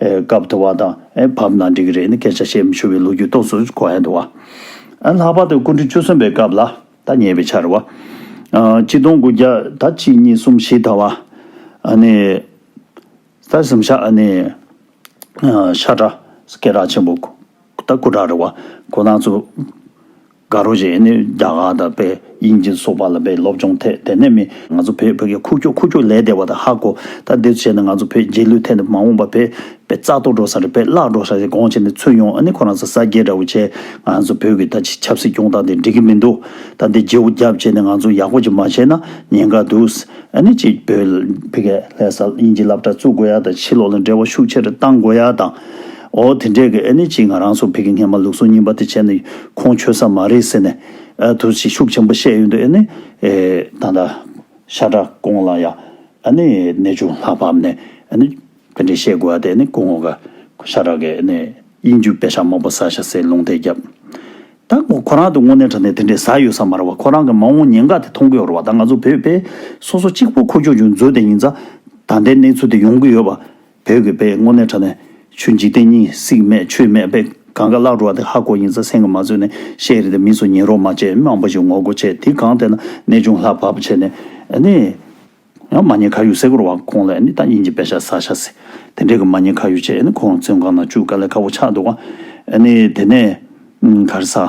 སྐབས་དུ་བ་དང་བབ་ན་འགྲིག་གི་རེད་ནི་སྐད་ཆ་བཤད་མི་ཆོག་པའི་ལོ་རྒྱུས་རྟོགས་སུ་གོ་ཡ་འདུག་བ། ལྷག་པར་དུ་སྐུ་འབྲུག་བཅུ་གསུམ་པའི་སྐབས་ལ་ད་ཉེ་བའི་ཆར་བ། གཅིག་སྟོང་དགུ་བརྒྱ་ད་གཅིག་གཉིས་གསུམ་བཞི་ད་བ། ནི། ད་གསུམ་ཤ་ཨ་ནི། ཤ་ཀྲ་སྐད་གྲགས་ཆེན་པོ། ད་སྐུ་དྲག་རེད་བ། གོ་ནག་ཚུ། དགའ་རོགས་བྱས་ནས་རྒྱ་གར་དང་དཔལ་དབྱིན་ཇི་སོགས་པ་ལ་བའི་སློབ་སྦྱོང་ཐད་དད་ནས་མི་ང་ཚོ་བོད་ཕ་གི་ཁུག་ཀྱོག་ཁུག་ཀྱོག་ལས་བདེ་བ་དང་ཧ་གོ་ད་འདིར་བྱས་ནས་ང་ཚོ་བོད་རྗེས་ལུས་ཐད་ནས་མ་འོངས་པ་བོད་པའི་རྩ་གཏོར་འགྲོ་ས་རེད་བོད་བརླག་འགྲོ་ས་རེད་དགོངས་བྱས་ནས་ཚུར་ཡོང་ཨ་ནི་ཁོ་རང་ས་ས་སྐྱེས་འདྲ་བོ་བྱས་ང་ཚོ་བོད་ཀྱི་ད་ཆི་ཆབ་སྲིད་སྐྱོང་སྟངས་དེ་འགྲིག་གི་མི་འདུག་ད་འདི་རྗེའུ་རྒྱབ་བྱས་ནས་ང་ཚོ་ཡག་པོ་ཅིག་མ་བྱས་ན་ཉེན་ཁ་འདུག་ཨ་ནི་གཅིག་བོད། ཕི་གས་ལྷས་ས་དབྱིན་ཇི་བསླབ་གྲྭ་བཙུགས་དགོས་ཡ་དང་ཕྱི་ལོགས་ལ་འབྲེལ་བ་ཤུགས་ཆེ་རུ་གཏང་དགོས་ཡ་དང། ཨོ་དེ་འདྲས་ཀི་ཨེ་ནི་ཅིག་ང་རང་ཚོ་བོད་ཀྱི་སྔས་མ་ལུགས་སོ་གཉིས་པ་དེ་བྱས་ནི་ཁོང་ཆོས་ས་མ་རེད་ཟེར་ནས་ཨ་དུར་ཅིག་ཤུགས་ཆེན་པོ་བཤད་ཡོད་འདུག་ཨེ་ནི། ད་ལྟ་ཤ་ཁྲག་ཀོང་ལ་ཡང་ཨ་ནི་གནས་ཆུང་ལྷག་བབས་ནས་ཨ་ནི་དེ་འདྲས་བཤད་དགོས་ཨ་དེ་ཨ་ནི་ཀོང་ངོ་ག་ཤ་ཁྲག་གི་ཨ་ནི་དབྱིན་རྒྱུ་པད་ཤག་མང་པོ་ཟ་ཤ་ཟེར་ལུང་དེ་རྒྱབ་ད་ཁོ་ཁོ་རང་དུ་དངོས་གནས་དྲ་ནས་དེ་འདྲས་ཟ་ཡོད་ས་མ་རེད་བ་ཁོ་རང་གི་མ་འོངས་ཉེན་ཁ་དེ་མཐོང་གི་ཡོད་རེད་བ་ད་ང་ཚོ་བོད་པས་སོ་སོ་གཅིག་པོ་ཁོ་ཁྱོ་ཅུང་མཛོད་དེ་ཡིན་ཙང་ད་འདྲས་གནས་ཚུལ་དེ་ཡོང་གི་ཡོད་བ། བོད་ཀྱི་དཔེ་དངོས་གནས་དྲ་ནས་ཆུ་འཇིག་རྟེན་གཉིས་སྲིག་མེད་ཆུ་མེད་དཔེ་གང་ག་བཀླག་འགྲོ་བ་དེ་ཧ་གོ་ཡིན་ས་སེང་གི་མ་ཚོས་ནས་བཤད་རེད་དེ་མིས་སུ་ཉན་རོགས་མ་བྱེད་དམངས་པོ་ཞིག་ངོ་རྒོ་བྱེད་དེ་གང་བལྟས་ན་གནས་ཆུང་ལྷག་བབ་བྱེད་ནས་ནི། ཡང་མ་ཉེས་ཁ་ཡུག་སེ་གོར་བ་ཁོང་ལས་ནི་ད་ཉིན་གྱི་དཔེ་ཤ་ཟ་ཤ་ཟེ་དེ་འདྲས་ཀྱི་མ་ཉེས་ཁ་ཡུག་བྱེད་ནི་ཁོང་བཙོན་ཁང་ན་བཅུག་ག་ལས་ཁ་བོ་ཆགས་འདུག་ག་ནི་དེ་ནས་གར་ས།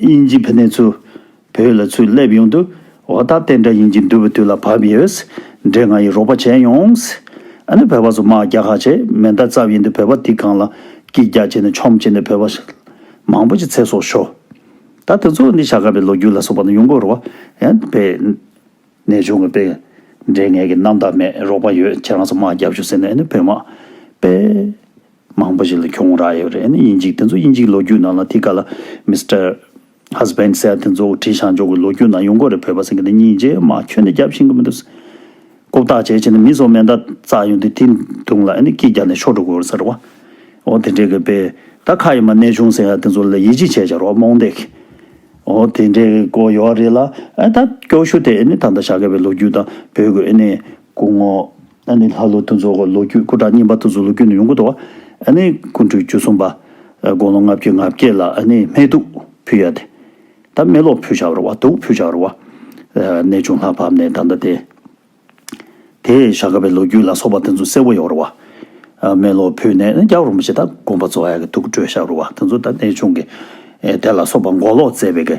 དབྱིན་ཇི་བྷི་ནས་ཚུར་བོད་ལ་ཚུར་སླེབས་ཡོང་དུས་འོ་ད་ཏན་ཏྲ་དབྱིན་ཇི་འདུལ་བའི་དུས་ལ་བབས་ཡོད། འདྲེ་ང་ཡི་རོགས་པ་བྱས་ཡོང། ཨ་ནི་བོད་པ་ཚོ་དམག་རྒྱག་ཧ་ཆེ་མེ་མདའ་རྩབ་ཡིན་དུས་བོད་པ་འདི་གང་ལ་སྐྱིད་རྒྱག་བྱེད་ནས་ཆོམ་བྱེད་ནས་བོད་པ་མང་པོ་ཅི་ཚེ་སྲོག་ཤོར། ད་དེ་ཚོ་འདི་བྱ་དཀའ་བའི་ལོ་རྒྱུས་ལ་སོགས་པ་ན་ཡོང་གོ་རོ། ཡང་བེ། ནས་བྱུང་བའི་བེ། འདྲེ་ངས་ཀྱི་རྣམ་དག་མེད་རོགས་པ་ཡོད་ཁྱེད་རང་ཚོ་དམག་རྒྱབ་བྱུང་ཟེར་ནས་ཨ་ནི་བོད་དམག་བེ། མང་པོ་ཞིག་ལ་གྱོང་རག་ཡོད་རེད་ནི་ཡིན་ཅིག་དེ་ཚོ་ཡིན་ཅིག་ལོ་རྒྱུས་ནང་ལ་དེ་ག་ལ Mister Husband སེར་དེ་ཚོ་དྲི་བཞག་འཇོག་གི་ལོ་རྒྱུས་ནང་ཡོང་གོ་རེད་བོད་པ་སེང་གེ་དེ་གཉིས་རྗེས་མ་ཁྱོད་ནི་རྒྱབ་ཤིང་གི་མི་འདུག་ཟེར། ཀོ་བརྟག་བྱས་བྱས་ནས་མི་ཚོ་མེ་མདའ་བཙག་ཡོང་དུས་དེ་དུང་ལ་ནི་སྐྱིད་རྒྱག་ནས་ཤོར་འགྲོ་གི་འོ་ཟེར་བ། འོ་དེ་འདྲའི་གི་དཔེ་ད་ཁ་ཡི་མ་གནས་བྱུང་ཟེར་ཡ་དེ་ཚོ་ལ་ཡིད་ཆེས་བྱས་བྱ་རོགས་རྨོངས་དད། འོ་དེ་འདྲའི་གི་ཀོ་ཡོད་རེད་ལ་ད་སྐྱོ་ཤུ་དེ་ནི་ད་ལྟ་བཞག་གི་བའི་ལོ་རྒྱུས་དང་བོད་གི་ནི་སྐུ་ངོ། ཨ་ནི་ལྷ་ལུགས་དུ་འཛུགས་ལོ་རྒྱུས་སྐུ་དྲག་གཉིས་པ་དུ་འཛུགས་ལོ་རྒྱུས་ནི་ཡོངས་ཀུན་ཏུ་ཨ་ནི་སྐུ་འཁྲུངས་བཅུ་གསུམ་པ། དགུང་ལོ་ལྔ་བཅུའི་ང་བརྒྱད་ལ་ཨ་ནི་སྨད་དུག་ཕུལ་ཡ་དེ། ད་སྨད་ལོག་ཕུལ་བྱ་བར་བ་དུག་ཕུལ་བྱ་བར་བ། ནད་བྱུང་ལྷ་བབས་ནས་ད་ལྟ་དེ། དེ་ཞག་ག་བའི་ལོ་རྒྱུས་ལ་སོགས་པ་དེ་ཚོ་གསལ་བོ་ཡོང་བར་བ། སྨད་ལོག་ཕུལ་ནས་ནི་རྒྱ་བོར་མི་བྱེད་ད་དགོངས་པ་རྫོགས་ཡ་གི་དུག་སྤྲོད་བྱ་བར་བ་དེ་ཚོ་ད་ནད་བྱུང་གི། དེ་ལ་སོགས་པ་འགོག་ལོག་བཙལ་བའི་གི།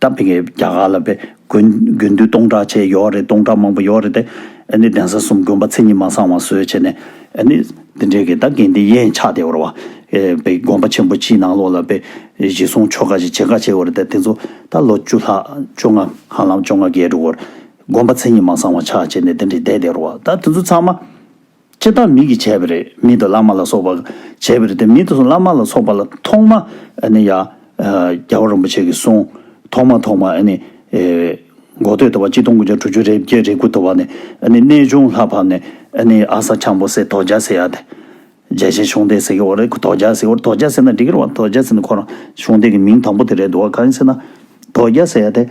སྟབས་བདེ་གི་རྒྱ་གར་ལ་བས་དགོན་དགོན་འདུས་སྟོང་ཕྲག་ཕྱེད་ཡོད་རེད་སྟོང་ཕྲག་མང་པོ་ཡོད་རེད་དེ། ཨ་ནི་གདན་ས་གསུམ་དགོན་པ་མཚན་ཉིད་མ་བཟང་བ་བཟོས་བྱས་ནས། ཨ་ནི་འདི་འདྲའི་གི་ད་གན་དེ་ཡན་ཆགས་དེ་འོར་བ། བས་དགོན་པ་ཆེན་པོ་སྤྱིའི་ནང་ལོགས་ལ་བས་གཞི་བཟུང་ཆོ་ག་ཞིག་བྱེད་དཀའ་བྱས་འོར་དེ་དེ་ཚོ་ད་ལོ་བཅུ་ལྷག་བཅོ་ལྔ་གང་ལམ་བཅོ་ལྔ་བརྒལ་འགྲོ་འོར། དགོན་པ་མཚན་ཉིད་མ་བཟང་བ་ཆགས་བྱས་ནས་དེ་འདྲའི་བསྡད་དེ་འོར་བ་ད་དེ་ཚོ་ཚང་མ། ལྕེ་དང་མིག་གིས་བྱས་པ་རེད་མིད་དུ་བླ་མ་ལ་སོགས་པ་བྱས་པ་རེད་དེ་མིད་དུ་བླ་མ་ལ་སོགས་པ་ལ་ཐོག་མ་ནི་ཡ། རྒྱལ་བ་རིན་པོ་ཆེ་གིས་གསུངས། ཐོག་མ་ཐོག་མ་ནི། འགོ་སྟོད་དུ་བ་གཅིག་སྟོང་དགུ་བརྒྱ་དྲུག་ཅུ་རེ་བརྒྱད་རེ་དགུ་དུ་བ་ནི་གནས་ཆུང་ལྷ་ཕམ་ནས་ནི་ཨ་ས་ཆང་པོ་སེ་དོ་རྒྱ་སེ་ཡ་སྟེ། རྒྱལ་ཆེན་ཤོང་སྡེ་ཟེར་གི་བ་རེད་ཁུ་དོ་རྒྱ་སེ་བ་རེད་དོ་རྒྱ་སེ་ན་འདི་གིར་བ་དོ་རྒྱ་སེ་ནི་ཁོ་རང་ཤོང་སྡེ་གི་མིང་དང་པོ་དེ་རེད་འདུག་བ་གང་ཡིན་ཟེར་ན། དོ་རྒྱ་སེ་ཡ་སྟེ།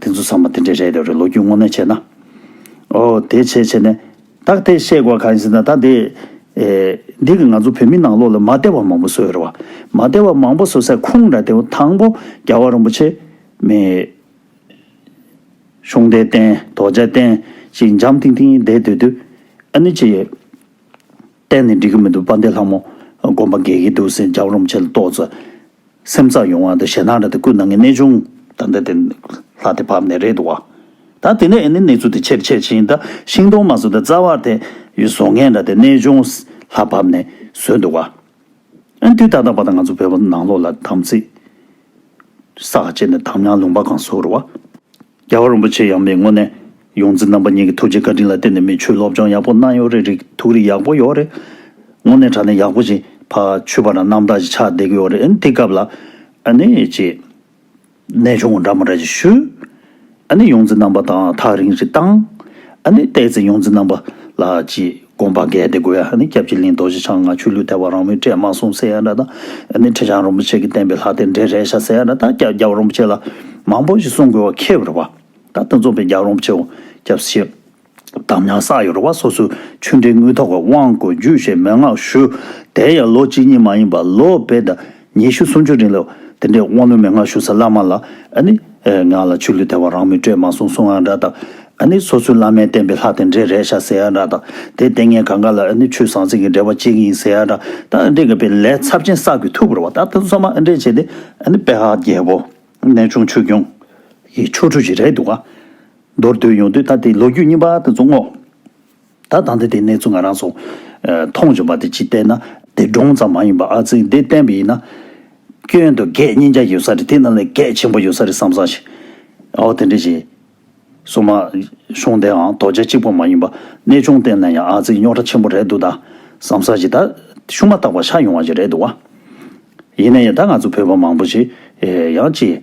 དེ་ཚོ་ཚང་མ་དེ་འདྲས་རེད་རེད་རེད་ལོ་རྒྱུས་དངོས་གནས་བྱས་ན། ཨོ། དེ་བྱས་བྱས་ནས། ད་དེ་བཤད་དགོས་གང་ཡིན་ཟེར་ན་ད་དེ། འདི་གི་ང་ཚོ་བོད་མི་ནང་ལོགས་ལ་མ་བདེ་བ་མང་པོ་བཟོས་ཡོད་རེད་བ། མ་བདེ་བ་མང་པོ་བཟོས་སའི་ཁུངས་འདྲ་དེ་དང་པོ་རྒྱལ་བ་རིན་པོ་ཆེ། མེད། གཤོང་རྟའི་རྟེན་རྡོ་རྗེ་རྟེན་ཅིག་འཇམ་ཐིང་ཐིང་བསྡད་སྡོད་དུས། ཨ་ནི་ཅི། གཏན་ནས་འགྲིག་གི་མི་འདུག་པཱ་འདས་ལྷ་མོ། སྒོམ་པ་འགལ་གྱི་འདུག་སེམས་ཅག་རུམ་ཆེ་ལ་ལྟོག་ཚ། སེམས་ཚགས་ཡོང་བ་དང་ཞེ་སྡང་རེད་ད་ཀུན་ནང་གི་གནས་ཆུང། ད་འདི་དེ། ལྷ་དེ་བབས་ནས་རེད་འདུག་བ། ད་དེ་ནས་ཨེ་ནི་གནས་ཚུལ་དེ་ཆེར་ཆེར་ཕྱིན་ད་ཤིང་སྡོང་མ་ཟོས་ད་རྩ་བར་དེ། ཡུལ་བཟོ་མཁན་འདྲ་དེ་གནས་ཆུང། ལྷ་བབས་ནས་ཟོས་འདུག་བ། ཨེ་དུས་ད་ལྟ་བ་ད་ང་ཚོ་བོད་པ་ནང་ལོག་ལ་དམ་ཚིག། སག་བཅད་ནས་དམ་ཉམས་ལུང་པ་གང་བཟོ་རུ་བ། རྒྱལ་བ་རིན་པོ་ཆེ་ཡངས་པའི་ངོ་ནས། ཡོངས་འཛིན་རྣམ་པ་གཉིས་ཀྱི་ཐུགས་རྗེ་བཀའ་དྲིན་ལ་བརྟེན་ནས་མི་ཆོས་སློབ་སྦྱོང་ཡག་པོ་གནང་ཡོད་རེད་རིག་ཐུགས་རིག་ཡག་པོ་ཡོད་རེད། དངོས་གནས་དྲ་གནས་ཡག་པོ་ཞིག་ཕ་ཆུ་བ་ར་རྣམ་དག་ཅིག་ཆགས་བསྡད་ཀྱི་ཡོད་རེད་ཨ་ནི་དེ་སྐབས་ལ། ཨ་ནི་ཅེས། ནས་ཆུང་ངུ་འདྲ་མོ་འདྲ་ཅིག་ཞུ། ཨ་ནི་ཡོངས་འཛིན་རྣམ་པ་དང་ཐག་རིང་རིང་བཏང། ཨ་ནི་བལྟས་ཚེ་ཡོངས་འཛིན་རྣམ་པ་ལགས་ཀྱིས། དགོངས་པ་གལ་ཏེ་དགོས་ཡག་ནི་སྐྱབས་རྗེ་གླིང་རྡོ་རྗེ་འཆང་ང་ཆོས་ལུས་དལ་བ་རང་མོས་བཀྲས་དམག་གསུམ་སེ་ཡ་འདྲ་དང། ནི་ཁྲི་བྱང་རིན་པོ་ཆེ་གི་བསྟན་པའི་ལྷ་རྟེན་འབྲེལ་རེད་ཤག་སེ་ཡ་འདྲ་དང་སྐྱབས་རྒྱལ་བ་རིན་པོ་ཆེ་ལ། མང་པོ་ཞིག་གསུང་དགོས་བ་ཁེལ་བར་བ། ད་ལྟ་འཛོམས་པའི་རྒྱལ་བ་རིན་པོ་ཆེ་འོ་སྐྱབས་སེ། དམ་ཉམས་བསགས་ཡོད་བ་སོ་སོའི་ཆོས་འབྲེལ་དངུལ་ཐོག་གི་དབང་བསྐུར་རྒྱུ་ཞེས་མན་ངག་ཞུ། དེ་ཡང་ལོ་གཅིག་གཉིས་མ་ཡིན་པར་ལོ་བེད་ཉི་ཤུ་སུམ་ཅུ་རིང་ལ། དེ་འདྲའི་དབང་ལུང་མན་ངག་ཞུ་ས་བླ་མ་ལ། ནི། ངག་ལ་ཆུ་ལུད་དལ་བ་རང་མི་སྤྲོད་མ་གསུང་གསུང་ཨ་འདྲ་དང། ནི། སོ་སོའི་བླ་མའི་བསྟན་པའི་ལྷ་དེ་འདྲས་རེད་ཤག་ཟེར་ཨ་འདྲ་དང། དེ་ལྟས་ངན་གང་ག་ལ། ནི། ཆུ་བཟང་ཟིང་གི་འབྲེལ་བ་གཅིག་ཡིན་ཟེར་ཨ་འདྲ་དང། འདྲེ་འགས་པའི་ལས་ཚབས་ཆེན་བསགས་དགོས་ཐུག་པར་བ་ད་དུང་སོ་མ་ཨ་འདྲས་བྱས་ཏེ། ནི། དཔལ་ཧ་རྒྱལ་པོ། གནས་ཆུང་ཆོས་སྐྱོང། གི་ཆོ་འཕྲུལ་ཞིག་རེད་འདུག་ག། མདོར་བསྡུས་ཡོང་དུས་ད་དེའི་ལོ་རྒྱུས་རྙིང་པ་ད་དུང་བསྔོགས། ད་ལྟ་འདི་དེ་གནས་ཚུལ་ང་རང་ཚོ་མཐོང་བྱུང་བ་དེ་གཅིག་བལྟས་ན། དེ་སྒྲུང་ཙམ་མ་ཡིན་པར་ཨ་ཚིག་འདི་བསྟན་པ་ཡིན་ན། སྐྱོན་དུ་གད་སྙིགས་འཇགས་ཀྱི་ཡོད་ས་རེད་དེ་རྣམས་ལས་གད་ཆེན་པོ་ཡོད་ས་རེད་བསམ་བསམ་ཞིག་ཨའོ་དེ་འདྲས་བྱས། གསུམ། གཞུང་དེའང་དོ་རྗེ་གཅིག་པོ་མ་ཡིན་པར་གནས་ཆུང་བསྟན་ན་ཡང་ཨ་ཚིག་རྙོག་དྲ་ཆེན་པོ་རེད་འདུག་ད་བསམ་བསམ་ཞིག་ད་ཤུ་མ་བརྟག་པར་ཤ་ཡོང་བ་ཞིག་རེད་འདུག་བ། ཡིན་ན་ཡང་ད་ང་ཚོ་བོད་པ་མང་པོ་ཞིག་ཡང་ཅི།